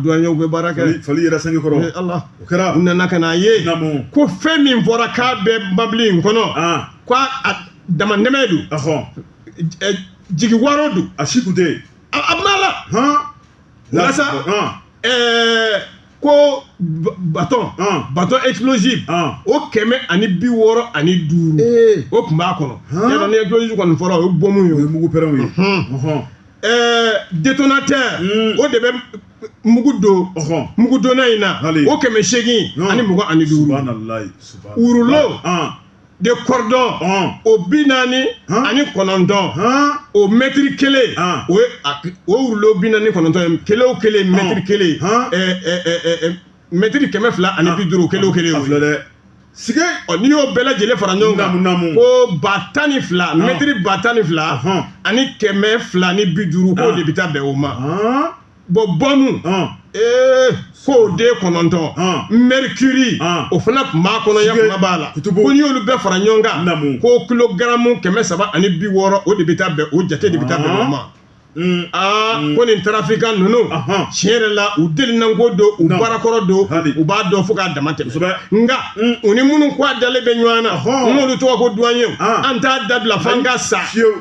duwanyew bɛ baara kɛ fali yɛrɛ sanji kɔrɔ ala o kɛra u nana ka n'a ye ko fɛn min fɔra k'a bɛ mɔbili in kɔnɔ ko a damatɛmɛ don jigiwaaro don a si kun tɛ yen a bɛna walawala sa ɛɛ ko baton baton explosive o kɛmɛ ani bi wɔɔrɔ ani duuru o tun b'a kɔnɔ yala ni explosive kɔni fɔra o ye bɔmu ye o ye mugu pɛrɛnw ye ɛɛ détonateur hmm. o de bɛ mugu don mugu donna in na o kɛmɛ seegin ani mugan ani duuru wurulo de kɔrɔdɔn o bi naani ani kɔnɔntɔn o mɛtiri kelen o ye o wurulo bi naani kɔnɔntɔn ye kelen o kelen mɛtiri kelen mɛtiri kɛmɛ fila ani bi duuru kelen o kelen o filɛ dɛ sige n'i y'o bɛɛ lajɛlen fara ɲɔgɔn kan ko ba tan ni fila mɛtiri ba tan ni fila ani kɛmɛ fila ni bi duuru k'o de bɛ taa bɛn o ma bɔnbɔnu ee k'o den kɔnɔntɔn mɛrikiri o fana tun b'a kɔnɔ ya kuma b'a la ko n'i y'olu bɛɛ fara ɲɔgɔn kan ko kilogaramu kɛmɛ saba ani bi wɔɔrɔ o de bɛ taa bɛn o jate de bɛ taa bɛn o ma aa ko nin tarafikan ninnu tiɲɛ yɛrɛ la u delinanko don u baarakɔrɔ don u b'a dɔn fo k'a dama tɛmɛ nka u ni minnu ko a dalen bɛ ɲɔgɔn na n'olu tɔgɔ ko duwanye an t'a dabila fo an ka sa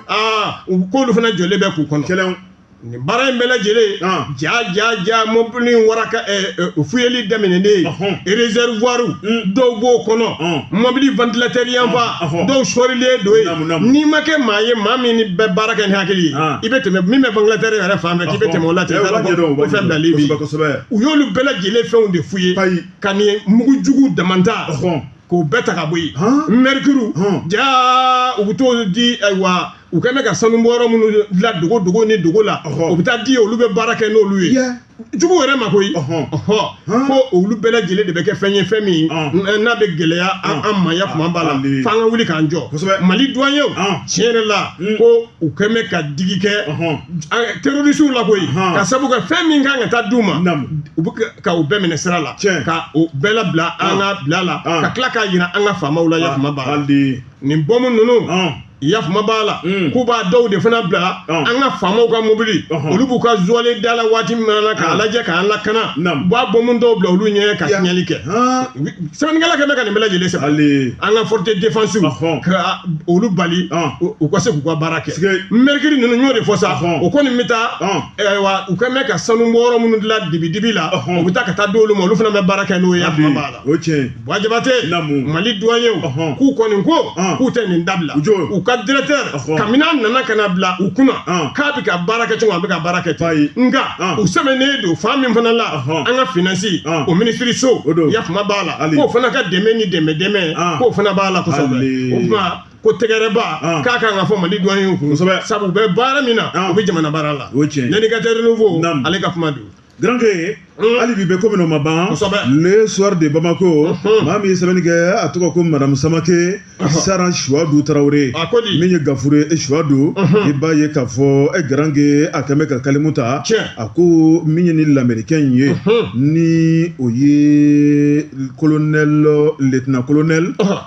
aa u k'olu fana jɔlen bɛ k'u kɔnɔ nin baara in bɛɛ lajɛlen Ah. ja ja ja mɔbili in waraka ɛ, ɛ, fuyeli daminɛnen Ɔhɔn. réservoiru Mm. dɔw b'o kɔnɔ Ɔn. mɔbili ventilateur yanfan Ah, ɔhɔn. dɔw sɔrilen don Naamu, naamu. yen n'i ma kɛ maa ye maa min ni bɛ baara kɛ ni hakili ye Ah. i bɛ tɛmɛ min bɛ ventilateur yɛrɛ fan fɛ k'i bɛ tɛmɛ o la ten Eh, u b'a ɲɛdɔn, u ko b'a fɛn ɲɛdɔn. bilali bi Kosɛbɛ, kosɛbɛ. u y'olu bɛɛ lajɛlen fɛnw de fuye Ayi. ka nin mugu jugu dama ta Ɔhɔn. k'o bɛɛ ta ka bɔ yen Hɔn. mɛrikuru Hɔn. ja u bɛ t'o di ayiwa u kɛn bɛ ka sanu bɔyɔrɔ minnu dilan dogo dogo ni dogo la o bɛ taa di olu bɛ baara kɛ n'olu ye jugu yɛrɛ ma koyi ko olu bɛɛ lajɛlen de bɛ kɛ fɛn ye fɛn min n'a bɛ gɛlɛya an ma ya kuma b'a la f'an ka wuli k'an jɔ mali duwan ye o tiɲɛ yɛrɛ la ko u kɛn bɛ ka digi kɛ terrorisiw la koyi ka sabu kɛ fɛn min kan ka taa d'u ma u bɛ ka u bɛɛ minɛ sira la ka u bɛɛ labila an ka bila la ka tila k'a yira an ka faamaw la ya kuma b'a la nin bɔmu ninnu ya kuma b'a la mm. k'u b'a dɔw de fana bila oh. an ka faamaw ka mobili oh. olu b'u ka zuwalen da la waati min na k'a ah. lajɛ k'an lakana u b'a bɔmu dɔw bila olu ɲɛ ka tiɲɛli kɛ sɛbɛnnikɛla kɛn bɛ ka nin bɛɛ lajɛlen sɛbɛn an ka forces de défense oh. ka olu bali ah. u ka se k'u ka baara kɛ merikiri ninnu n y'o de fɔ sa o kɔni bɛ taa ah. u kɛn bɛ ka sanu bɔyɔrɔ minnu dilan dibi dibi la o bɛ taa ka taa di olu ma olu fana bɛ baara kɛ n'o ye ya kuma b'a la Jabate mali duwanyew k'u kɔni ko k'u tɛ nin dabila u ka directeur kabini a nana ka na bila u kunna k'a bɛ ka baara kɛ cogo a bɛ ka baara kɛ ten nka u sɛbɛnnen don fan min fana la an ka finansi o minisiriso ya kuma b'a la k'o fana ka dɛmɛ ni dɛmɛ dɛmɛ k'o fana b'a la kosɛbɛ ko tɛgɛrɛba ka kan ka fɔ mali duwanyew ye sabu u bɛ baara min na u bɛ jamana baara la l'Indicateur Renouveau ale ka kuma don Granke hali bi bɛ ko min o ma ban le soir de Bamako maa min ye sɛbɛnni kɛ a tɔgɔ ko madame Samake Saran Suwadu Tarawele min ye gafure ye Suwadu i b'a ye k'a fɔ e Granke a kɛn bɛ ka kalimu ta a ko min ye nin lamɛrikɛn in ye ni o ye colonel lieutenant colonel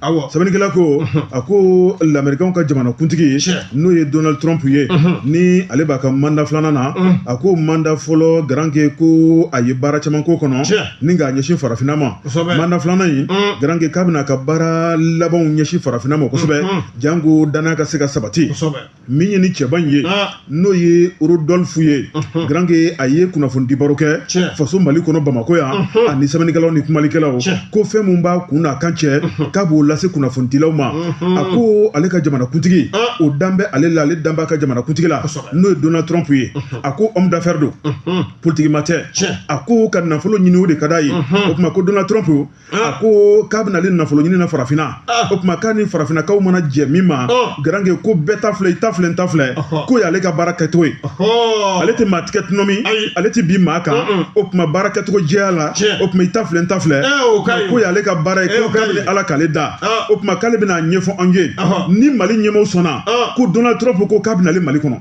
Awɔ. sɛbɛnnikɛla ko a ko lamɛrikanw ka jamana kuntigi Tiɲɛ. n'o ye donald trump ye Unhun. ni ale b'a ka manda filanan na Mm. a ko manda fɔlɔ garanke ko a ye baara caman k'o kɔnɔ Tiɲɛ. ni k'a ɲɛsin farafinna ma Kosɛbɛ. manda filanan in Mm. garanke k'a bɛna a ka baara labanw ɲɛsin farafinna ma kosɛbɛ Mm, mm. janko danaya ka se ka sabati Kosɛbɛ. min ye ni cɛba in ye ah. n'o ye rodolfu ye uh-huh. granke a ye kunnafonidi baro kɛ faso mali kɔnɔ bamakɔ yan uh-huh. ani sɛbɛnnikɛlaw ni kumalikɛlaw ko fɛn min b'a kun n'a kan cɛ uh-huh. k'a b'o lase kunnafonidilaw ma a ko ale ka jamanakuntigi ah. o dan bɛ ale la ale dan b'a ka jamanakuntigi la n'o ye donald trump ye a ko homme d'affaire don politigi maa tɛ a ko ka nafolo ɲini o de ka d'a ye o tuma ko donald trump a ko k'a bɛna ale nafolo ɲini na farafinna o tuma k'a ni farafinnakaw mana jɛ min ma garanke ko bɛɛ ta filɛ i ta filɛ n ta filɛ k'o y'ale ka baara kɛcogo ye ale tɛ maa tigɛ tɔnɔmi ale tɛ bin maa kan o tuma baara kɛcogo jɛya la o tuma i ta filɛ n ta filɛ k'o y'ale ka baara ye ko kabini ala k'ale da o tuma k'ale bɛn'a ɲɛfɔ an ye ni mali ɲɛmaw sɔnna ko donald trump ko k'a bɛna ale mali kɔnɔ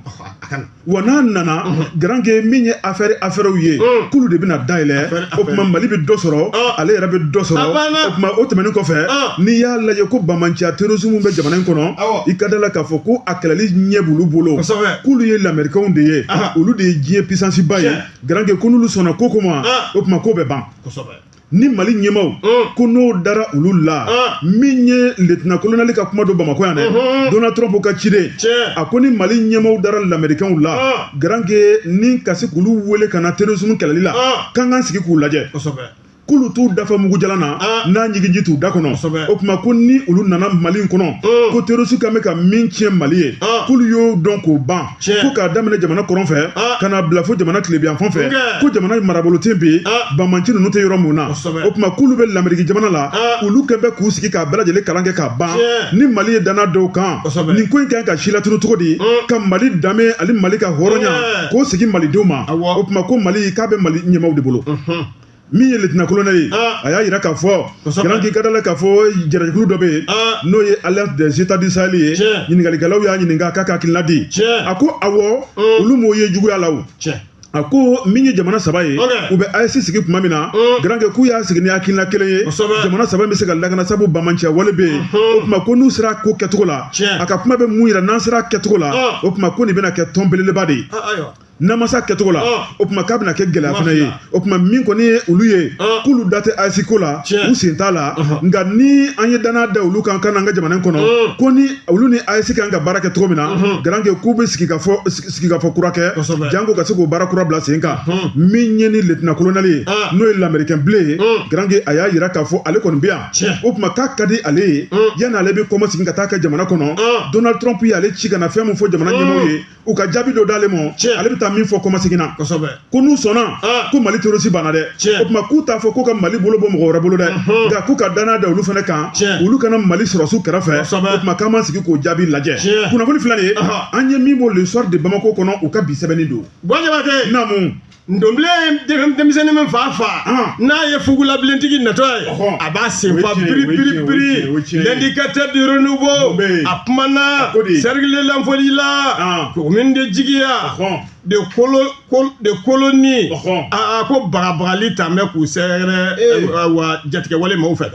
wa n'a nana garanke min ye afɛri afɛriw ye k'olu de bɛna dayɛlɛ o tuma mali bɛ dɔ sɔrɔ ale yɛrɛ bɛ dɔ sɔrɔ o tuma o tɛmɛnen kɔfɛ n'i y'a lajɛ ko bamanciya terrorisme bɛ jamana in kɔnɔ i ka da la k'a fɔ ko a kɛlɛli ɲɛ b'olu bolo k'olu ye lamɛrikɛnw de ye olu de ye diɲɛ pisansiba ye garanke ko n'olu sɔnna ko ko ma o tuma k'o bɛ ban ni mali ɲɛmaw mm. ko n'o dara olu la mm. min ye letina kolonɛli ka kuma don bamakɔ yan dɛ mm-hmm. donald trump ka ciden a ko ni mali ɲɛmaw dara lamɛrikɛnw la mm. garanke ni ka se k'olu wele ka na terrorisme kɛlɛli la k'an k'an sigi k'u lajɛ k'olu t'u da fa mugu jalan na ah. n'a ɲigin ji t'u da kɔnɔ o tuma ko ni olu nana mali kɔnɔ mm. ko terrorisi kan bɛ ka min tiɲɛ mali ye ah. k'olu y'o dɔn k'o ban ko k'a daminɛ jamana kɔrɔn fɛ ah. ka na bila fo jamana tilebinyanfan fɛ ko jamana marabolo ten bɛ yen ah. bamanci ninnu tɛ yɔrɔ min na o tuma k'olu bɛ lameriki jamana la ah. olu kɛ bɛ k'u sigi k'a bɛɛ lajɛlen kalan kɛ ka ban ni mali ye danna d'olu kan nin ko in kan ka silatunu cogo di mm. ka mali danbe ani mali ka hɔrɔnya k'o segin malidenw ma o tuma ko mali k'a bɛ mali ɲɛmaw de bolo mm-hmm. min ye letina kolonɛli ye a y'a jira k'a fɔ garanke i ka da la k'a fɔ jara jɛkulu dɔ bɛ yen n'o ye alliance des états du sahel ye ɲininkalikɛlaw y'a ɲininka k'a ka hakilina di a ko awɔ olu m'o ye juguya la o a ko min ye jamana saba ye u bɛ AES sigi tuma min na garanke k'u y'a sigi ni hakilina kelen ye jamana saba bɛ se ka lakana sabu bamanciya wale bɛ yen o tuma ko n'u sera ko kɛcogo la a ka kuma bɛ mun jira n'an sera kɛcogo la o tuma ko nin bɛna kɛ tɔn belebeleba de ye n'a ma se kɛcogo la o tuma k'a bɛna kɛ gɛlɛya fana ye o tuma min kɔni ye olu ye k'olu da tɛ AES ko la u sen t'a la nka ni an ye danna da olu kan ka na an ka jamana kɔnɔ ko ni olu ni AES kan ka baara kɛ cogo min na garanke k'u bɛ sigikafɔ kura kɛ janko ka se k'o baara kura bila sen kan min ye ni letina kolonɛli ye n'o ye lamerikɛn bilen ye garanke a y'a jira k'a fɔ ale kɔni bɛ yan o tuma k'a ka di ale ye yanni ale bɛ kɔmasegin ka taa a ka jamana kɔnɔ donald trump y'ale ci ka na fɛn min fɔ jamana ɲɛmaw ye u ka jaabi dɔ d'ale ma ale bɛ taa min fɔ kɔmasegin na ko n'u sɔnna ah. ko mali terrorisi banna dɛ o tuma k'u t'a fɔ ko ka mali bolo bɔ mɔgɔ wɛrɛ bolo dɛ mhm. nka k'u ka danaya da olu fana kan olu ka na mali sɔrɔsiw kɛrɛfɛ o tuma k'an b'an sigi k'o jaabi lajɛ kunnafoni filɛ nin ye an ye min bɔ le soir de bamako kɔnɔ u ka bi sɛbɛnni don naamu Ndobilen denmisɛnnin min fa fa n'a ye fugulabilentigi natɔ ye a b'a sen fa biri biri biri l'indicateur du renouveau a kumana cercle de Yanfolila commune de Jigiya de Kolo de Koloni aa ko bagabagali tun bɛ k'u sɛgɛrɛ wa jatigɛwale mɔgɔw fɛ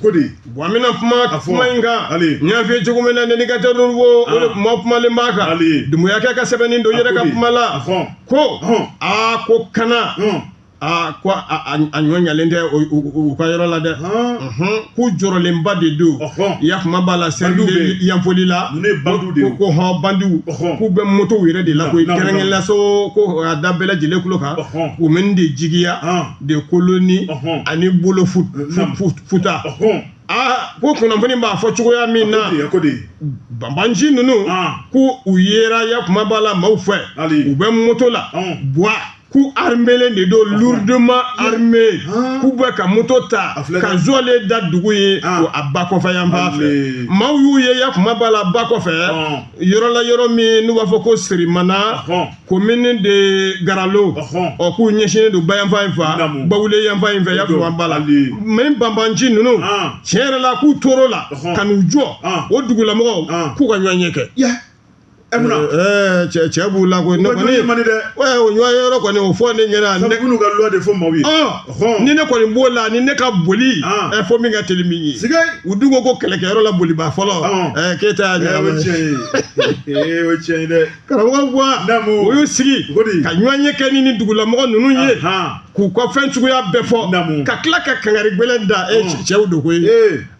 ko di Bon an bɛna kuma A fɔ. kuma in kan Hali. n y'a f'i ye cogo min na l'indicateur du renouveau de Ah. kuma kumalen b'a kan Hali. Dumuyakɛ ka sɛbɛnni don n yɛrɛ ka Hali. kuma la Ahɔn. ko Ahɔn. aa ko kana Hɔn. aa ko a a- a ɲɔ ɲalen tɛ o- u u- u ka yɔrɔ la dɛ Hɔn. Unhun, k'u jɔrɔlenba de don Ɔhɔn. yakuma b'a la cercle de Yanfolila ko ko hɔn bandiw Ɔhɔn. k'u bɛ motow yɛrɛ de la Na- koyi na- na. kɛrɛnkɛrɛnnenya la so ko a da bɛɛ lajɛlen kulo kan Ɔhɔn. commune de Jigiya Hɔn. de Koloni ani Bolo Futa aa ko kunnafoni b'a fɔ cogoya min na banbanci ninnu ko u yera ya kuma b'a la maaw fɛ u bɛ moto la bwa k'u armelen de don lourdement armé k'u bɛ ka moto ta ka zɔlen da dugu ye ko a ba kɔfɛ yan fan fɛ maaw y'u ye ya kuma b'a la ba kɔfɛ yɔrɔ la yɔrɔ min n'u b'a fɔ ko Sirimana commune de Garalo ɔ k'u ɲɛsinnen don ba yanfan in fɛ Bawule yanfan in fɛ yakuma b'a la mais banbanci ninnu tiɲɛ yɛrɛ la k'u tor'o la ka n'u jɔ o dugulamɔgɔw k'u ka ɲɔgɔnye kɛ Eh, eh, cɛ cɛ b'u la koyi ne kɔni mani dɛ o ɲɔgɔn ye yɔrɔ kɔni o fɔ ne ɲɛna ne k'u ka loi de fɔ maaw ye ni ne kɔni b'o la ni ne ka boli ɛ fo min ka teli min ye u dun ko ko kɛlɛkɛyɔrɔ la boliba fɔlɔ ɛ k'e ta y'a ɲɛnabɔ o tiɲɛ ye o tiɲɛ ye dɛ karamɔgɔ wa o y'u sigi ka ɲɔgɔnye kɛ ni nin dugulamɔgɔ ninnu ye k'u ka fɛn cogoya bɛɛ fɔ ka tila ka kangari gbɛlɛn da e cɛw don koyi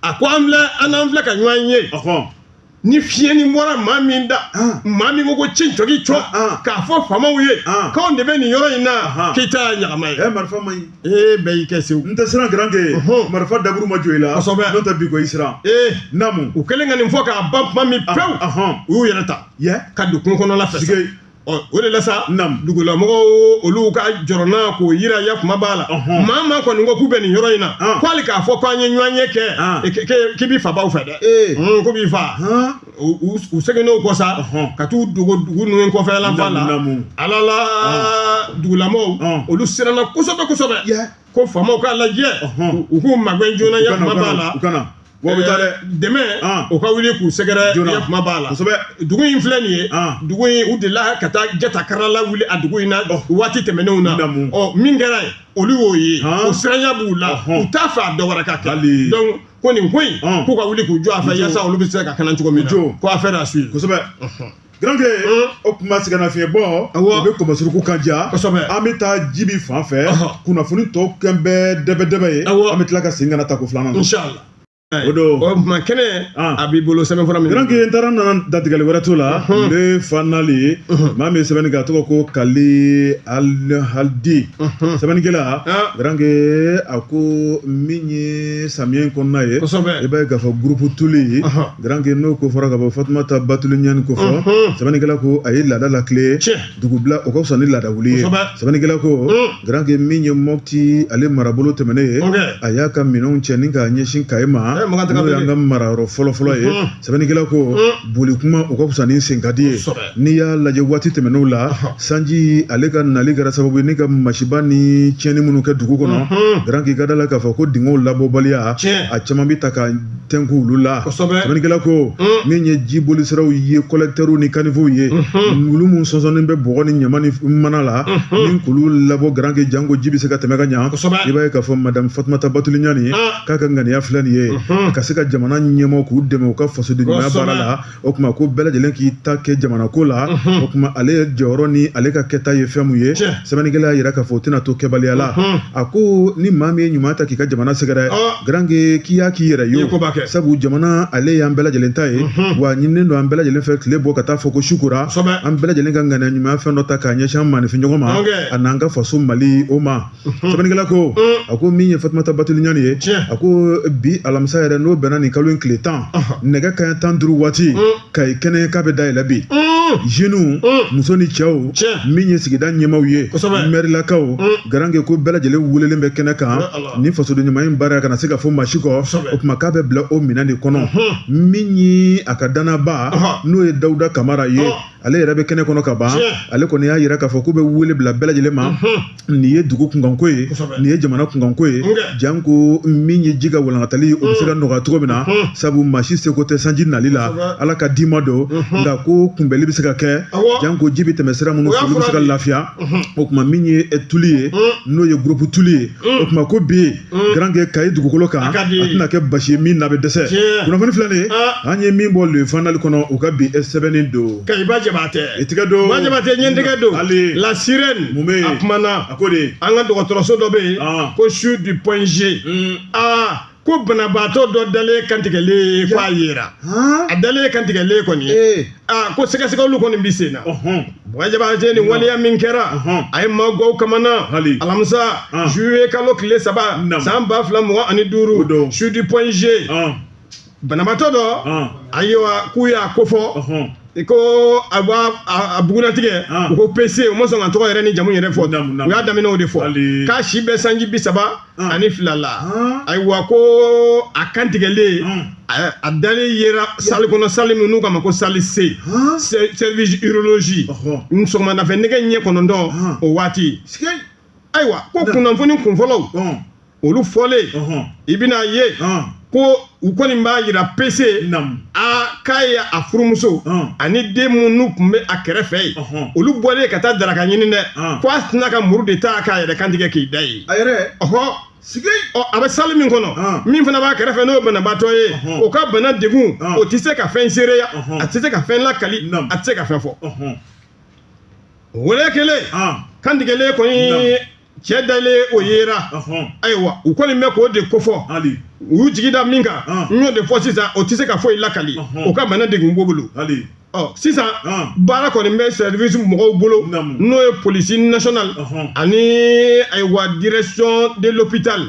a ko an filɛ an n'an filɛ ka ɲɔgɔn ye ni fiɲɛnin bɔra maa min da maa min ko ko ci jɔki cɔ k'a fɔ faamaw ye k'anw de bɛ nin yɔrɔ in na k'i ta y'a ɲagama ye. ɛ marifa man ɲi. ee bɛɛ y'i kɛ sew. n tɛ siran garankɛ marifa daburu ma jɔ i la. kosɛbɛ n'o tɛ bi ko i siran. ee naamu. u kɛlen ka nin fɔ k'a ban tuma min pewu u y'u yɛrɛ ta. ka don kungo kɔnɔla fɛ o de la sa dugulamɔgɔ olu ka jɔrɔnako jira ya kuma b'a la maa o maa kɔni ko k'u bɛ nin yɔrɔ in na ko hali k'a fɔ k'an ye ɲɔgɔnye kɛ k'i b'i fabaw fɛ dɛ k'u b'i faa u seginn'o kɔ sa ka t'u dogo dugu ninnu kɔfɛla fan la ala la dugulamɔgɔ olu siranna kosɛbɛ kosɛbɛ ko faamaw k'a lajɛ u k'u magɛn joona ya kuma b'a la Wa bɛ taa dɛ dɛmɛ o ka wuli k'u sɛgɛrɛ yakuma b'a la kosɛbɛ dugu in filɛ nin ye dugu in u delila ka taa jata karala wuli a dugu in na waati tɛmɛnenw na ɔ min kɛra yen olu y'o ye o siranya b'u la u t'a fɛ a dɔ wɛrɛ ka kɛ donc ko nin ko in k'u ka wuli k'u jɔ a fɛ yasa olu bɛ se ka kana cogo min na ko affaire à suivre kosɛbɛ. Garankɛ o tuma sɛgɛnnafiɲɛ bɔ o bɛ kɔmɔsuruku kan ja an bɛ taa jibi fan fɛ kunnafoni tɔ kɛlen bɛ dɛbɛdɛbɛ ye an bɛ tila ka segin ka na tako filanan o don o tuma kɛnɛ a b'i bolo sɛbɛnfura min garankɛ n taara nana datigɛli wɛrɛ t'o la le fanali maa min ye sɛbɛnni kɛ a tɔgɔ ko kali alihadi sɛbɛnnikɛla garankɛ a ko min ye samiyɛ in kɔnɔna ye i b'a ye k'a fɔ gurupu tuli Garankɛ n'o ko fɔra ka bɔ fatumata batuli ɲani ko fɔ sɛbɛnnikɛla ko a ye laada latilen dugu bila o ka fisa ni laada wuli ye sɛbɛnnikɛla ko garankɛ min ye moti ale marabolo tɛmɛnen ye a y'a ka minɛnw cɛ ni k'a ɲɛsin kayi ma n'o y'an ka marayɔrɔ fɔlɔfɔlɔ ye sɛbɛnnikɛla ko boli kuma o ka fisa ni senkadi ye n'i y'a lajɛ waati tɛmɛnenw la sanji ale ka nali kɛra sababu ye ni ka masiba ni tiɲɛni minnu kɛ dugu kɔnɔ garankɛ ka da la k'a fɔ ko dingɛw labɔbaliya a caman bɛ taa ka tɛnku olu la sɛbɛnnikɛla ko mm. min ye jibolisiraw ye kɔlɛkitɛriw ni kanifow ye mm-hmm. olu minnu sɔnsɔnnen bɛ bɔgɔ ni ɲama ni mana la mm-hmm. ni k'olu labɔ garanke janko ji bɛ se ka tɛmɛ ka ɲa i b'a ye k'a fɔ madamu fatumata batuli ɲani ah. k'a ka ŋaniya filɛ nin ye mm-hmm. ka se ka jamana ɲɛmɔgɔ k'u dɛmɛ u ka fasodenɲumanya baara la o tuma ko bɛɛ lajɛlen k'i ta kɛ jamana ko la o tuma ale ye jɔyɔrɔ ni ale ka kɛta ye fɛn min ye sɛbɛnnikɛla y'a yira k'a fɔ o tɛna to kɛbaliya la a ko ni maa min ye ɲuman ta k'i ka jamana sɛgɛrɛ garankɛ k'i y'a k'i yɛrɛ ye sabu jamana ale y'an bɛɛ lajɛlen ta ye wa ɲininen don an bɛɛ lajɛlen fɛ tile bɔ ka taa fɔ ko su kora an bɛɛ lajɛlen ka ŋaniya ɲumanya fɛn dɔ ta k'a ɲɛsin an maanifinɲɔgɔn ma a n'an ka faso mali o ma sɛbɛnnikɛla ko a ko min ye fatumata batuli ɲani ye a ko bi alamisa yɛrɛ n'o bɛnna nin kalo in tile tan nɛgɛ kaɲɛ tan duuru waati kayi kɛnɛ k'a bɛ dayɛlɛ bi jeniw muso ni cɛw min ye sigida ɲɛmaaw ye mɛrilakaw garankɛ ko bɛɛ lajɛlen welelen bɛ kɛnɛ kan ni fasoden ɲuman in baara kana se ka fɔ maa si kɔ o tuma k'a bɛ bila o minɛn de kɔnɔ min ye a ka dannabaa n'o ye dawuda kamara ye ale yɛrɛ bɛ kɛnɛ kɔnɔ ka ban ale kɔni y'a yira k'a fɔ k'u bɛ wele bila bɛɛ lajɛlen ma nin ye dugu kunkanko ye nin ye jamana kunkanko ye janko min ye ji ka walankatali o bɛ se ka nɔgɔya cogo min na sabu maa si seko tɛ sanji nali la ala ka d'i ma don nka ko kunbɛnli bɛ se ka kɛ janko ji bɛ tɛmɛ sira minnu fɛ olu bɛ se ka lafiya o tuma min ye tuli ye n'o ye gurupu tuli ye o tuma ko bi garankɛ kayi dugukolo kan a tɛna kɛ basi ye min na bɛ dɛsɛ kunnafoni filɛ nin ye an ye min bɔ le fanali kɔnɔ u ka bi sɛbɛnni don kayi ba jabatɛ i tigɛ don ba jabatɛ ne tigɛ don hali la sirɛn mun bɛ a kumana a ko de an ka dɔgɔtɔrɔso dɔ bɛ yen ko CHU du point G aa ko banabaatɔ dɔ dalen kantigɛlen ko a yera a dalen kantigɛlen kɔni aa ko sɛgɛsɛgɛliw kɔni bɛ sen na ɔhɔn Ba Jabate ni waleya min kɛra Ɔhɔn. a ye maaw gaw kamana Hali. alamisa Ah. juillet kalo tile saba Naam. san ba fila mugan ani O duuru don. CHU du Point G ɔn banabaatɔ dɔ ɔn ayiwa k'u y'a kofɔ ɔhɔn i ko a b'a a- a bugunnatigɛ Ah. u ko PC u ma sɔn ka tɔgɔ yɛrɛ ni jamu yɛrɛ fɔ Naamu, naamu. u y'a daminɛ o de fɔ Hali. k'a si bɛ sanji bi saba Ah. ani fila la Ah. ayiwa ko a kantigɛlen Mm. a- a dalen yera salle kɔnɔ salle min n'u k'a ma ko salle C Ah. Se- service urologie Ɔhɔ. n sɔgɔmadafɛ nɛgɛ ɲɛ kɔnɔntɔn Ah. o waati Sikɛ. ayiwa ko kunnafoni kunfɔlɔw Ɔn. olu fɔlen Ɔhɔn. i bɛna ye Ɔn. ko u kɔni b'a yira PC a k'a ye a furumuso ani den minnu tun bɛ a kɛrɛfɛ yen olu bɔlen ka taa daraka ɲini dɛ ko a sinna ka muru de ta k'a yɛrɛ kantigɛ k'i da yen sigi ɔ a bɛ salle min kɔnɔ ah. min fana b'a kɛrɛfɛ n'o banabaatɔ ye o ka bana degun ah. o tɛ se ka fɛn seereya a tɛ se ka fɛn lakali a tɛ se ka fɛn fɔ wele kelen ah. kantigɛlen kɔni cɛ dalen o yera ayiwa u kɔni bɛ k'o de kofɔ u y'u jigi da min kan n y'o de fɔ sisan o tɛ se ka foyi lakali o ka bana degun b'o bolo sisan baara kɔni bɛ service mɔgɔw bolo n'o ye police nationale ani ayiwa direction de l'hôpital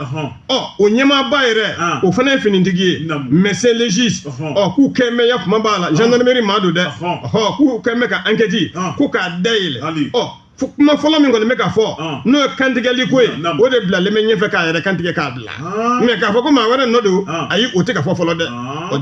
ɔ o ɲɛmaaba yɛrɛ o fana ye finitigi ye médecin légiste ɔ k'u kɔni bɛ ya kuma b'a la gendarmerie maa don dɛ ɔ k'u kɔni bɛ ka enquête ko k'a dayɛlɛ ɔ fo kuma fɔlɔ min kɔni bɛ ka fɔ ah. n'o ye kantigɛli ko ye o de bilalen bɛ ɲɛfɛ k'a yɛrɛ kantigɛ k'a bila ah. mais k'a fɔ ko maa wɛrɛ nɔ don ah. ayi o tɛ ka fɔ fɔlɔ dɛ o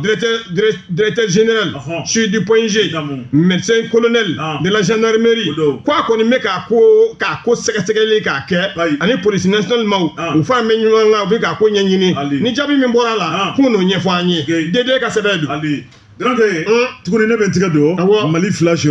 directeur général CHU du Point G médecin colonel de la gendarmerie ko a kɔni bɛ k'a ko sɛgɛsɛgɛli k'a kɛ ani police nationale maaw u faralen bɛ ɲɔgɔn kan u bɛ k'a ko ɲɛɲini ni jaabi min bɔra a la k'u n'o ɲɛfɔ an ye DD ka sɛbɛn don Garankɛ tuguni ne bɛ n tigɛ don Mali Flash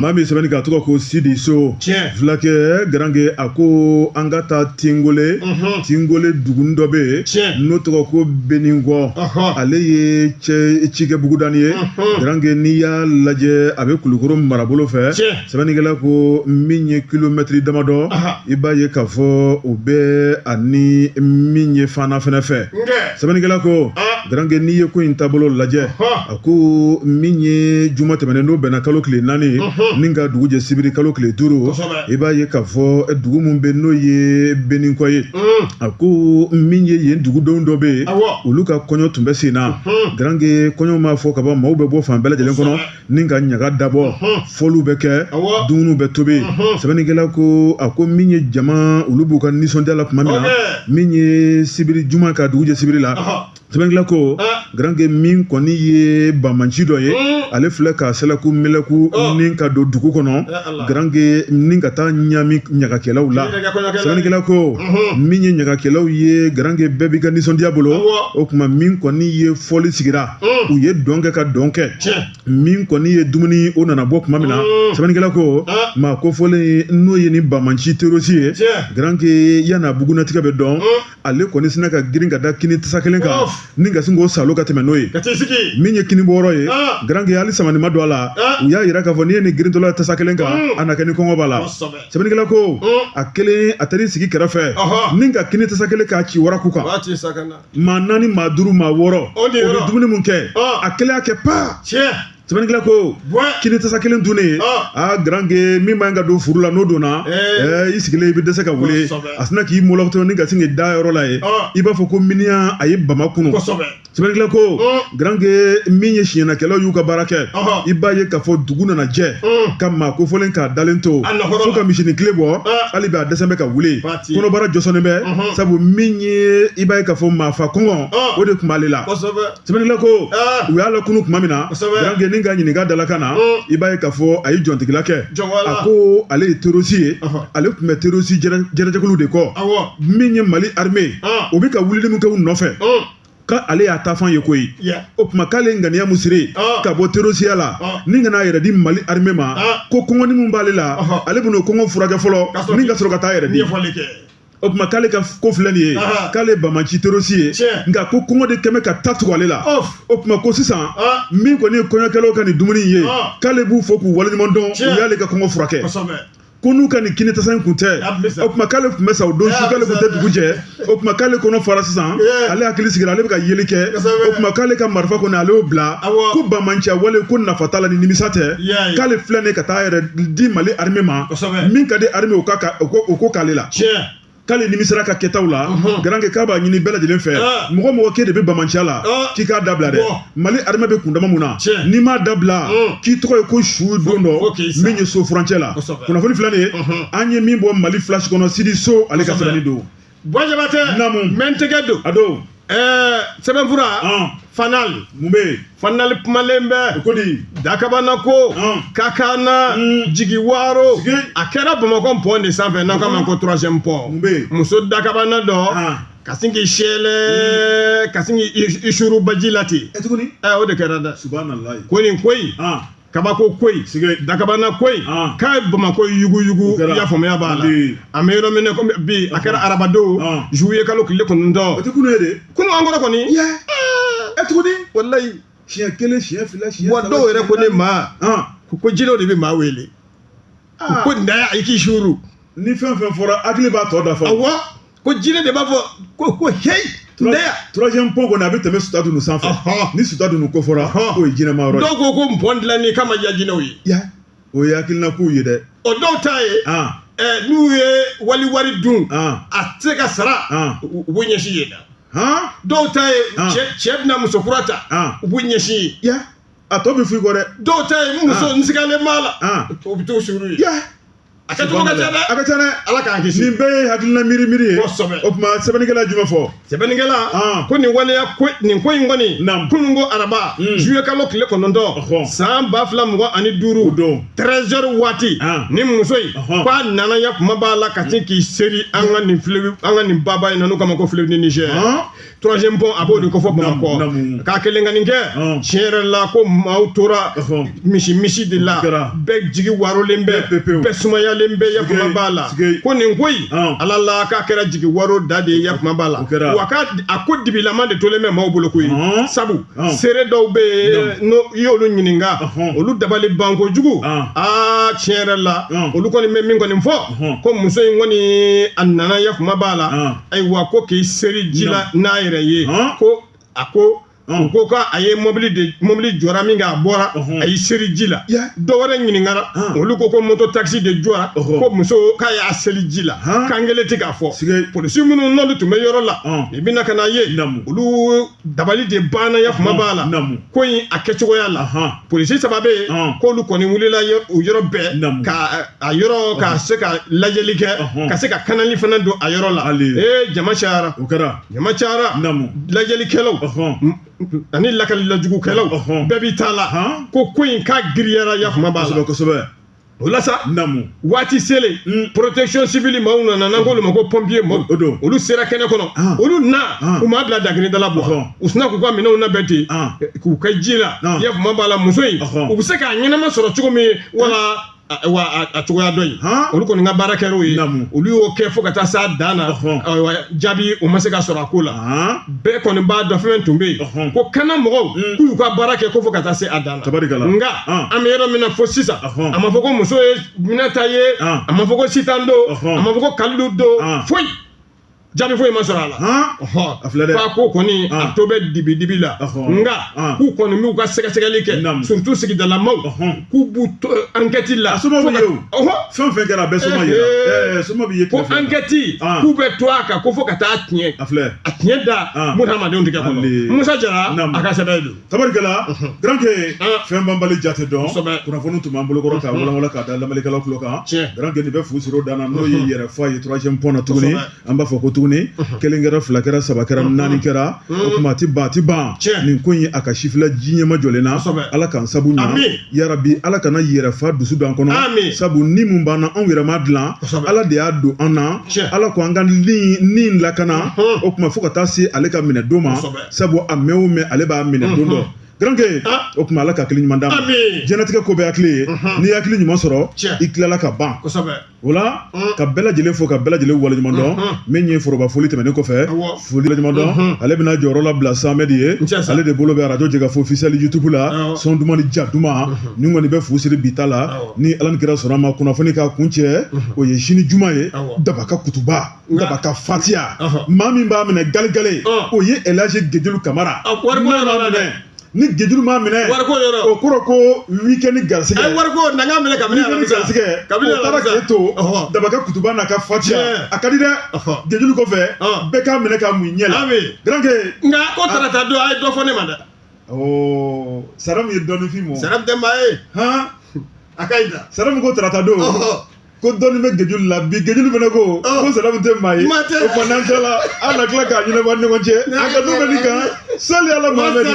ma min sɛbɛnnikɛla tɔgɔ ko Sidi So filakɛ garankɛ a ko an ka taa Tingole Tingole dugunin dɔ bɛ yen n'o tɔgɔ ko beninkɔ ale ye cɛ cikɛ bugudanin ye garankɛ n'i y'a lajɛ a bɛ kulukoro marabolo fɛ sɛbɛnnikɛla ko min ye kilomɛtiri damadɔ i b'a ye k'a fɔ o bɛ ani min ye Fana fɛnɛ fɛ sɛbɛnnikɛla ko garankɛ n'i ye ko in taabolo lajɛ a ko min ye juma tɛmɛnen n'o bɛnna kalo tile naani ni ka dugu jɛ sibiri kalo tile duuru i b'a ye k'a fɔ dugu min bɛ n'o ye beninkɔ ye a ko min ye yen dugudenw dɔ bɛ yen olu ka kɔɲɔ tun bɛ sen na garankɛ kɔɲɔ mana fɔ ka ban maaw bɛ bɔ fan bɛɛ lajɛlen kɔnɔ ni ka ɲaga dabɔ fɔliw bɛ kɛ dumuniw bɛ tobi sɛbɛnnikɛla ko a ko min ye jama olu b'u ka nisɔndiya la tuma min na min ye sibiri juma ka dugu jɛ sibiri la sɛbɛnnikɛla ko garanke min kɔni ye bamanci dɔ ye ale filɛ ka sɛlɛku mɛlɛku ni ka don dugu kɔnɔ garanke ni ka taa ɲami ɲagakɛlaw la sɛbɛnnikɛla ko min ye ɲagakɛlaw ye garanke bɛɛ b'i ka nisɔndiya bolo o tuma min kɔni ye fɔli sigira u ye dɔn kɛ ka dɔn kɛ min kɔni ye dumuni o nana bɔ tuma min na sɛbɛnnikɛla ko maa kofɔlen n'o ye ni bamanci terrosi ye garanke yan'a bugunatigɛ bɛ dɔn ale kɔni sina ka girin ka da kini tasa kelen kan ni ka sin k'o salo ka tɛmɛ n'o ye min ye kini bɔyɔrɔ ye garanke hali samani ma don a la u y'a yira k'a fɔ n'i ye ni girintɔla tasa kelen kan a na kɛ ni kɔngɔ b'a la sɛbɛnnikɛla ko a kelen a taar'i sigi kɛrɛfɛ ni ka kini tasa kelen k'a ci waraku kan maa naani maa duuru maa wɔɔrɔ o bɛ dumuni mun kɛ a kelen y'a kɛ paa sɛbɛnnikɛla ko kini tasa kelen dunnen aa garanke min man ka don furu la n'o donna i sigilen i bɛ dɛsɛ ka wuli a sina k'i mɔlɔtɔ ni ka sin k'i da yɔrɔ la ye i b'a fɔ ko miniyan a ye bama kunu sɛbɛnnikɛla ko garanke min ye siɲɛnakɛlaw y'u ka baara kɛ i b'a ye k'a fɔ dugu nana jɛ ka maa kofɔlen k'a dalen to fo ka misinin kile bɔ hali bi a dɛsɛlen bɛ ka wuli kɔnɔbara jɔsɔnnen bɛ mhm. sabu min ye i b'a ye k'a fɔ maafa kɔngɔ ah. o de tun b'ale la sɛbɛnnila ko ah. u y'a lakunu tuma min na garanke ni k'a ɲininka dalakan na mm. i b'a ye k'a fɔ a ye jɔntigila kɛ a ko ale ye terrosi ye ale tun bɛ terrosi jɛrɛjɛkulu de kɔ min ye mali armée ah. o bɛ ka wulili min kɛ u nɔfɛ mm. k'ale y'a ta fan ye koyi o tuma k'ale ŋaniya mun siri ah. ka bɔ terrosiya la ah. ni ka n'a yɛrɛ di mali armée ma ah. ko kɔngɔni min b'ale la ale bɛn'o kɔngɔ furakɛ fɔlɔ ni ka sɔrɔ ka taa yɛrɛ di o tuma k'ale ka ko filɛ nin ye k'ale bamanci terrosi ye nka ko kɔngɔ de tun bɛ ka ta tugu ale la o tuma ko sisan min kɔni ye kɔɲɔkɛlaw ka nin dumuni ye k'ale b'u fo k'u waleɲuman dɔn u y'ale ka kɔngɔ furakɛ ko n'u ka nin kini tasa in kun tɛ o tuma k'ale tun bɛ sa o don su k'ale tun tɛ dugu jɛ o tuma k'ale kɔnɔ fara sisan ale hakili sigira ale bɛ ka yeli kɛ o tuma k'ale ka marifa kɔni ale y'o bila ko bamanci wale ko nafa t'a la ni nimisa tɛ k'ale filɛ nin ka taa a yɛrɛ di mali armée ma min ka di armée o k'o k'ale la k'ale nimisara ka kɛtaw la garanke k'a b'a ɲini bɛɛ lajɛlen fɛ mɔgɔ o mɔgɔ k'e de bɛ bamanciya la k'i k'a dabila dɛ mali armée bɛ kundama mun na n'i m'a dabila k'i tɔgɔ ye ko su don dɔ min ye so furancɛ la kunnafoni filɛ nin ye an ye min bɔ mali flash kɔnɔ sidi so ale ka sɛbɛnni don bɔjabatɛ namu mɛntigɛ don a don ɛɛ sɛbɛnfura ɔn fanali mun bɛ yen fanali kumalen bɛ ko di dakabana ko Ɔn. kakana Mm. jigi waaro Sigi. a kɛra bamakɔ pɔn de sanfɛ n'an k'a ma ko troisième pɔn Mun bɛ yen? muso dakabana dɔ Ɔn. ka sin k'i seri ka sin k'i i- i suru baji la ten ɛ tuguni ɛ o de kɛra dɛ subahana layi ko nin ko in ɔn kabako ko in dakabana ko in ah. k'a ye bamakɔ yuguyugu i y'a faamuya b'a la an bɛ yɔrɔ min na komi bi a kɛra ah. arabadon ah. juillet kalo tile kɔnɔntɔn o tɛ kunun ye de kunun an kɔrɔ kɔni ɛ tuguni walayi siɲɛ kelen siɲɛ fila siɲɛ saba wa dɔw yɛrɛ ko ne ma ko jinɛw de bɛ maa wele ko nin da i k'i suuru ni fɛn fɛn fɔra hakili b'a tɔ dafa awɔ ko jinɛ de b'a fɔ ko ko heyi ndeya troisième pont kɔni a bɛ tɛmɛ sutadunu sanfɛ Ɔhɔn. ni sutadunu ko fɔra Ɔhɔn. k'o ye jinɛma yɔrɔ ye dɔw ko ko pɔn dilanni k'a ma diya jinɛw ye ya o ye hakilina kow ye dɛ o dɔw ta ye an ɛ, n'u ye wali wari dun an a tɛ se ka sara Ɔn. u u b'u ɲɛsin yen na han dɔw ta ye Ɔn. cɛ cɛ bɛna muso kura ta Ɔn. u b'u ɲɛsin yen ya a tɔ bɛ f'i kɔ dɛ dɔw ta ye muso Ɔn. n sigalen b'a la Ɔn. o bɛ t'o suru yen ya a kɛcogo ka ca dɛ a ka ca dɛ ala k'an kisi nin bɛɛ ye hakilina miiri miiri ye kosɛbɛ o tuma sɛbɛnnikɛla jumɛn fɔ sɛbɛnnikɛla ah. ko nin waleya ko nin ko in kɔni naam kunun ko araba hmm. juillet kalo tile kɔnɔntɔn san ba fila mugan ani duuru don treize heures waati ah. ni muso in ko a nana ya kuma b'a la ka sin k'i seri an ka nin fleuve an ka nin baba in na n'u k'a ma ko fleuve ni Niger ah. troisième pont a b'o de kofɔ bamakɔ k'a kelen ka nin kɛ tiɲɛ yɛrɛ la ko maaw tora misi misi de la bɛɛ jigi waarolen bɛ bɛɛ sumayalen bɛ yakuma b'a la ko nin ko in ala la k'a kɛra jigi waaro da de ye yakuma b'a la wa k'a a ko dibilama de tolen bɛ maaw bolo koyi sabu seere dɔw bɛ yen n'o i y'olu ɲininka olu dabali ban kojugu aa tiɲɛ yɛrɛ la olu kɔni bɛ min kɔni fɔ ko muso in kɔni a nana yakuma b'a la ayiwa ko k'i seri ji la n'a yɛrɛ ye ko a ko u ko ko a ye mobili de mobili jɔra min kɛ a bɔra a y'i seri ji la dɔ wɛrɛ ɲininkara olu ko ko moto takisi de jɔra ko muso k'a y'a seri ji la kan kelen tɛ k'a fɔ polisi minnu n'olu tun bɛ yɔrɔ la i bɛna ka n'a ye olu dabali de banna ya kuma b'a la Namu. ko in a kɛcogoya la Ahan. polisi saba bɛ yen Ahan. k'olu kɔni wulila yɔ- o yɔrɔ bɛɛ Namu. ka a yɔrɔ ka se ka lajɛli kɛ Ahan. ka se ka kanali fana don a yɔrɔ la Ale. ee jama cayara o kɛra jama cayara Namu. lajɛlikɛlaw Ɔhɔn. m- ani lakalilajugukɛlaw Ɔhɔn. bɛɛ b'i ta la Ahan. ko ko in k'a giriyara ya kuma b'a la kosɛbɛ kosɛbɛ o la sa namu waati selen mm. protection civile maaw nana n'an k'olu ma ko pompier maaw o don olu sera kɛnɛ kɔnɔ ah. olu na ah. u m'a bila dakiridala bɔ ah. u sina k'u ka minɛnw labɛn ten eh, k'u kɛ ji la i y'a faamu b'a la muso in u bɛ se k'a ɲɛnama sɔrɔ cogo min wala wa a cogoya dɔ in olu kɔni ka baara kɛra o ye olu y'o kɛ fo ka taa s'a dan na jaabi o ma se ka sɔrɔ a ko la bɛɛ kɔni b'a dɔn fɛn tun bɛ yen ko kana mɔgɔw k'u y'u ka baara kɛ ko fo ka taa se a dan na nka an bɛ yɔrɔ min na fo sisan a ma fɔ ko muso ye minɛta ye a ma fɔ ko sitan don a ma fɔ ko kalilu don foyi jaabi foyi ma sɔrɔ a la fa ko kɔni a tɔ bɛ dibi dibi la nka k'u kɔni b'u ka sɛgɛsɛgɛli kɛ surtout sigidalamaw k'u b'u to ankɛti la fɛn fɛn kɛra a bɛɛ soma ye soma b'i ye ko ankɛti k'u bɛ to a kan ko fo ka taa tiɲɛ a filɛ a tiɲɛ da ah. mun hadamadenw tigɛ kɔnɔ musa jara a ka sɛbɛn don tabarikɛla garanke ah. fɛn banbali jate dɔn kunnafoni tun b'an bolokɔrɔ k'a walawala k'a da lamɛnnikɛlaw tulo kan garanke nin bɛ fu siri o dan na n'o ye yɛrɛfa ye troisième pɔn na tuguni an b'a fɔ ko tuguni kelen kɛra fila kɛra saba kɛra naani kɛra o tuma a ti ban a ti ban nin ko in a ka sifila ji ɲɛmajɔlen na ala k'an sabu ɲa yarabi ala kana yɛrɛfa dusu don an kɔnɔ sabu ni mun b'an na anw yɛrɛ ma dilan ala de y'a don an na ala ko an ka ni lakana o tuma fo ka taa se ale ka minɛ don ma sabu a mɛn o mɛn ale b'a minɛ don dɔ garanke ah. o tuma ala ka hakili ɲuman d'an ma diɲɛlatigɛ ko bɛɛ hakili ye n'i ye hakili ɲuman sɔrɔ i tilala ka ban o la mm. ka bɛɛ lajɛlen fo ka bɛɛ lajɛlen waleɲuman dɔn mm-hmm. min ye foroba foli tɛmɛnen kɔfɛ foli waleɲuman dɔn mm-hmm. ale bɛna jɔyɔrɔ labila samɛd ye ale de bolo bɛ arajo jɛkafo officiel youtube la son duman ni ja duman mm-hmm. nin kɔni bɛ fu siri bi ta la ni ala ni kira sɔnn'a ma kunnafoni ka kuncɛ o ye sini juma ye daba ka kutuba Daba ka fatiya maa min b'a minɛ galegale o ye elaji gejulu kamara ni gejulu m'a minɛ o kɔrɔ ko weekend garisɛgɛ garisɛgɛ to daba ka kutuba n'a ka fatiya ka di dɛ gejulu kɔfɛ bɛɛ k'a minɛ ka mun ɲɛke nka ko tarata don a ye dɔ fɔ ne ma dɛ sara min ye dɔnfin ma sara ye a ka sara ko tarata don ko dɔnni bɛ gejulu la bi gejulu fana ko ko salamu tɛ maa ye o fana an tɛ la an na tila k'a ɲɛnabɔ an ni ɲɔgɔn cɛ a ka du bɛ nin kan sali ala muhamɛdi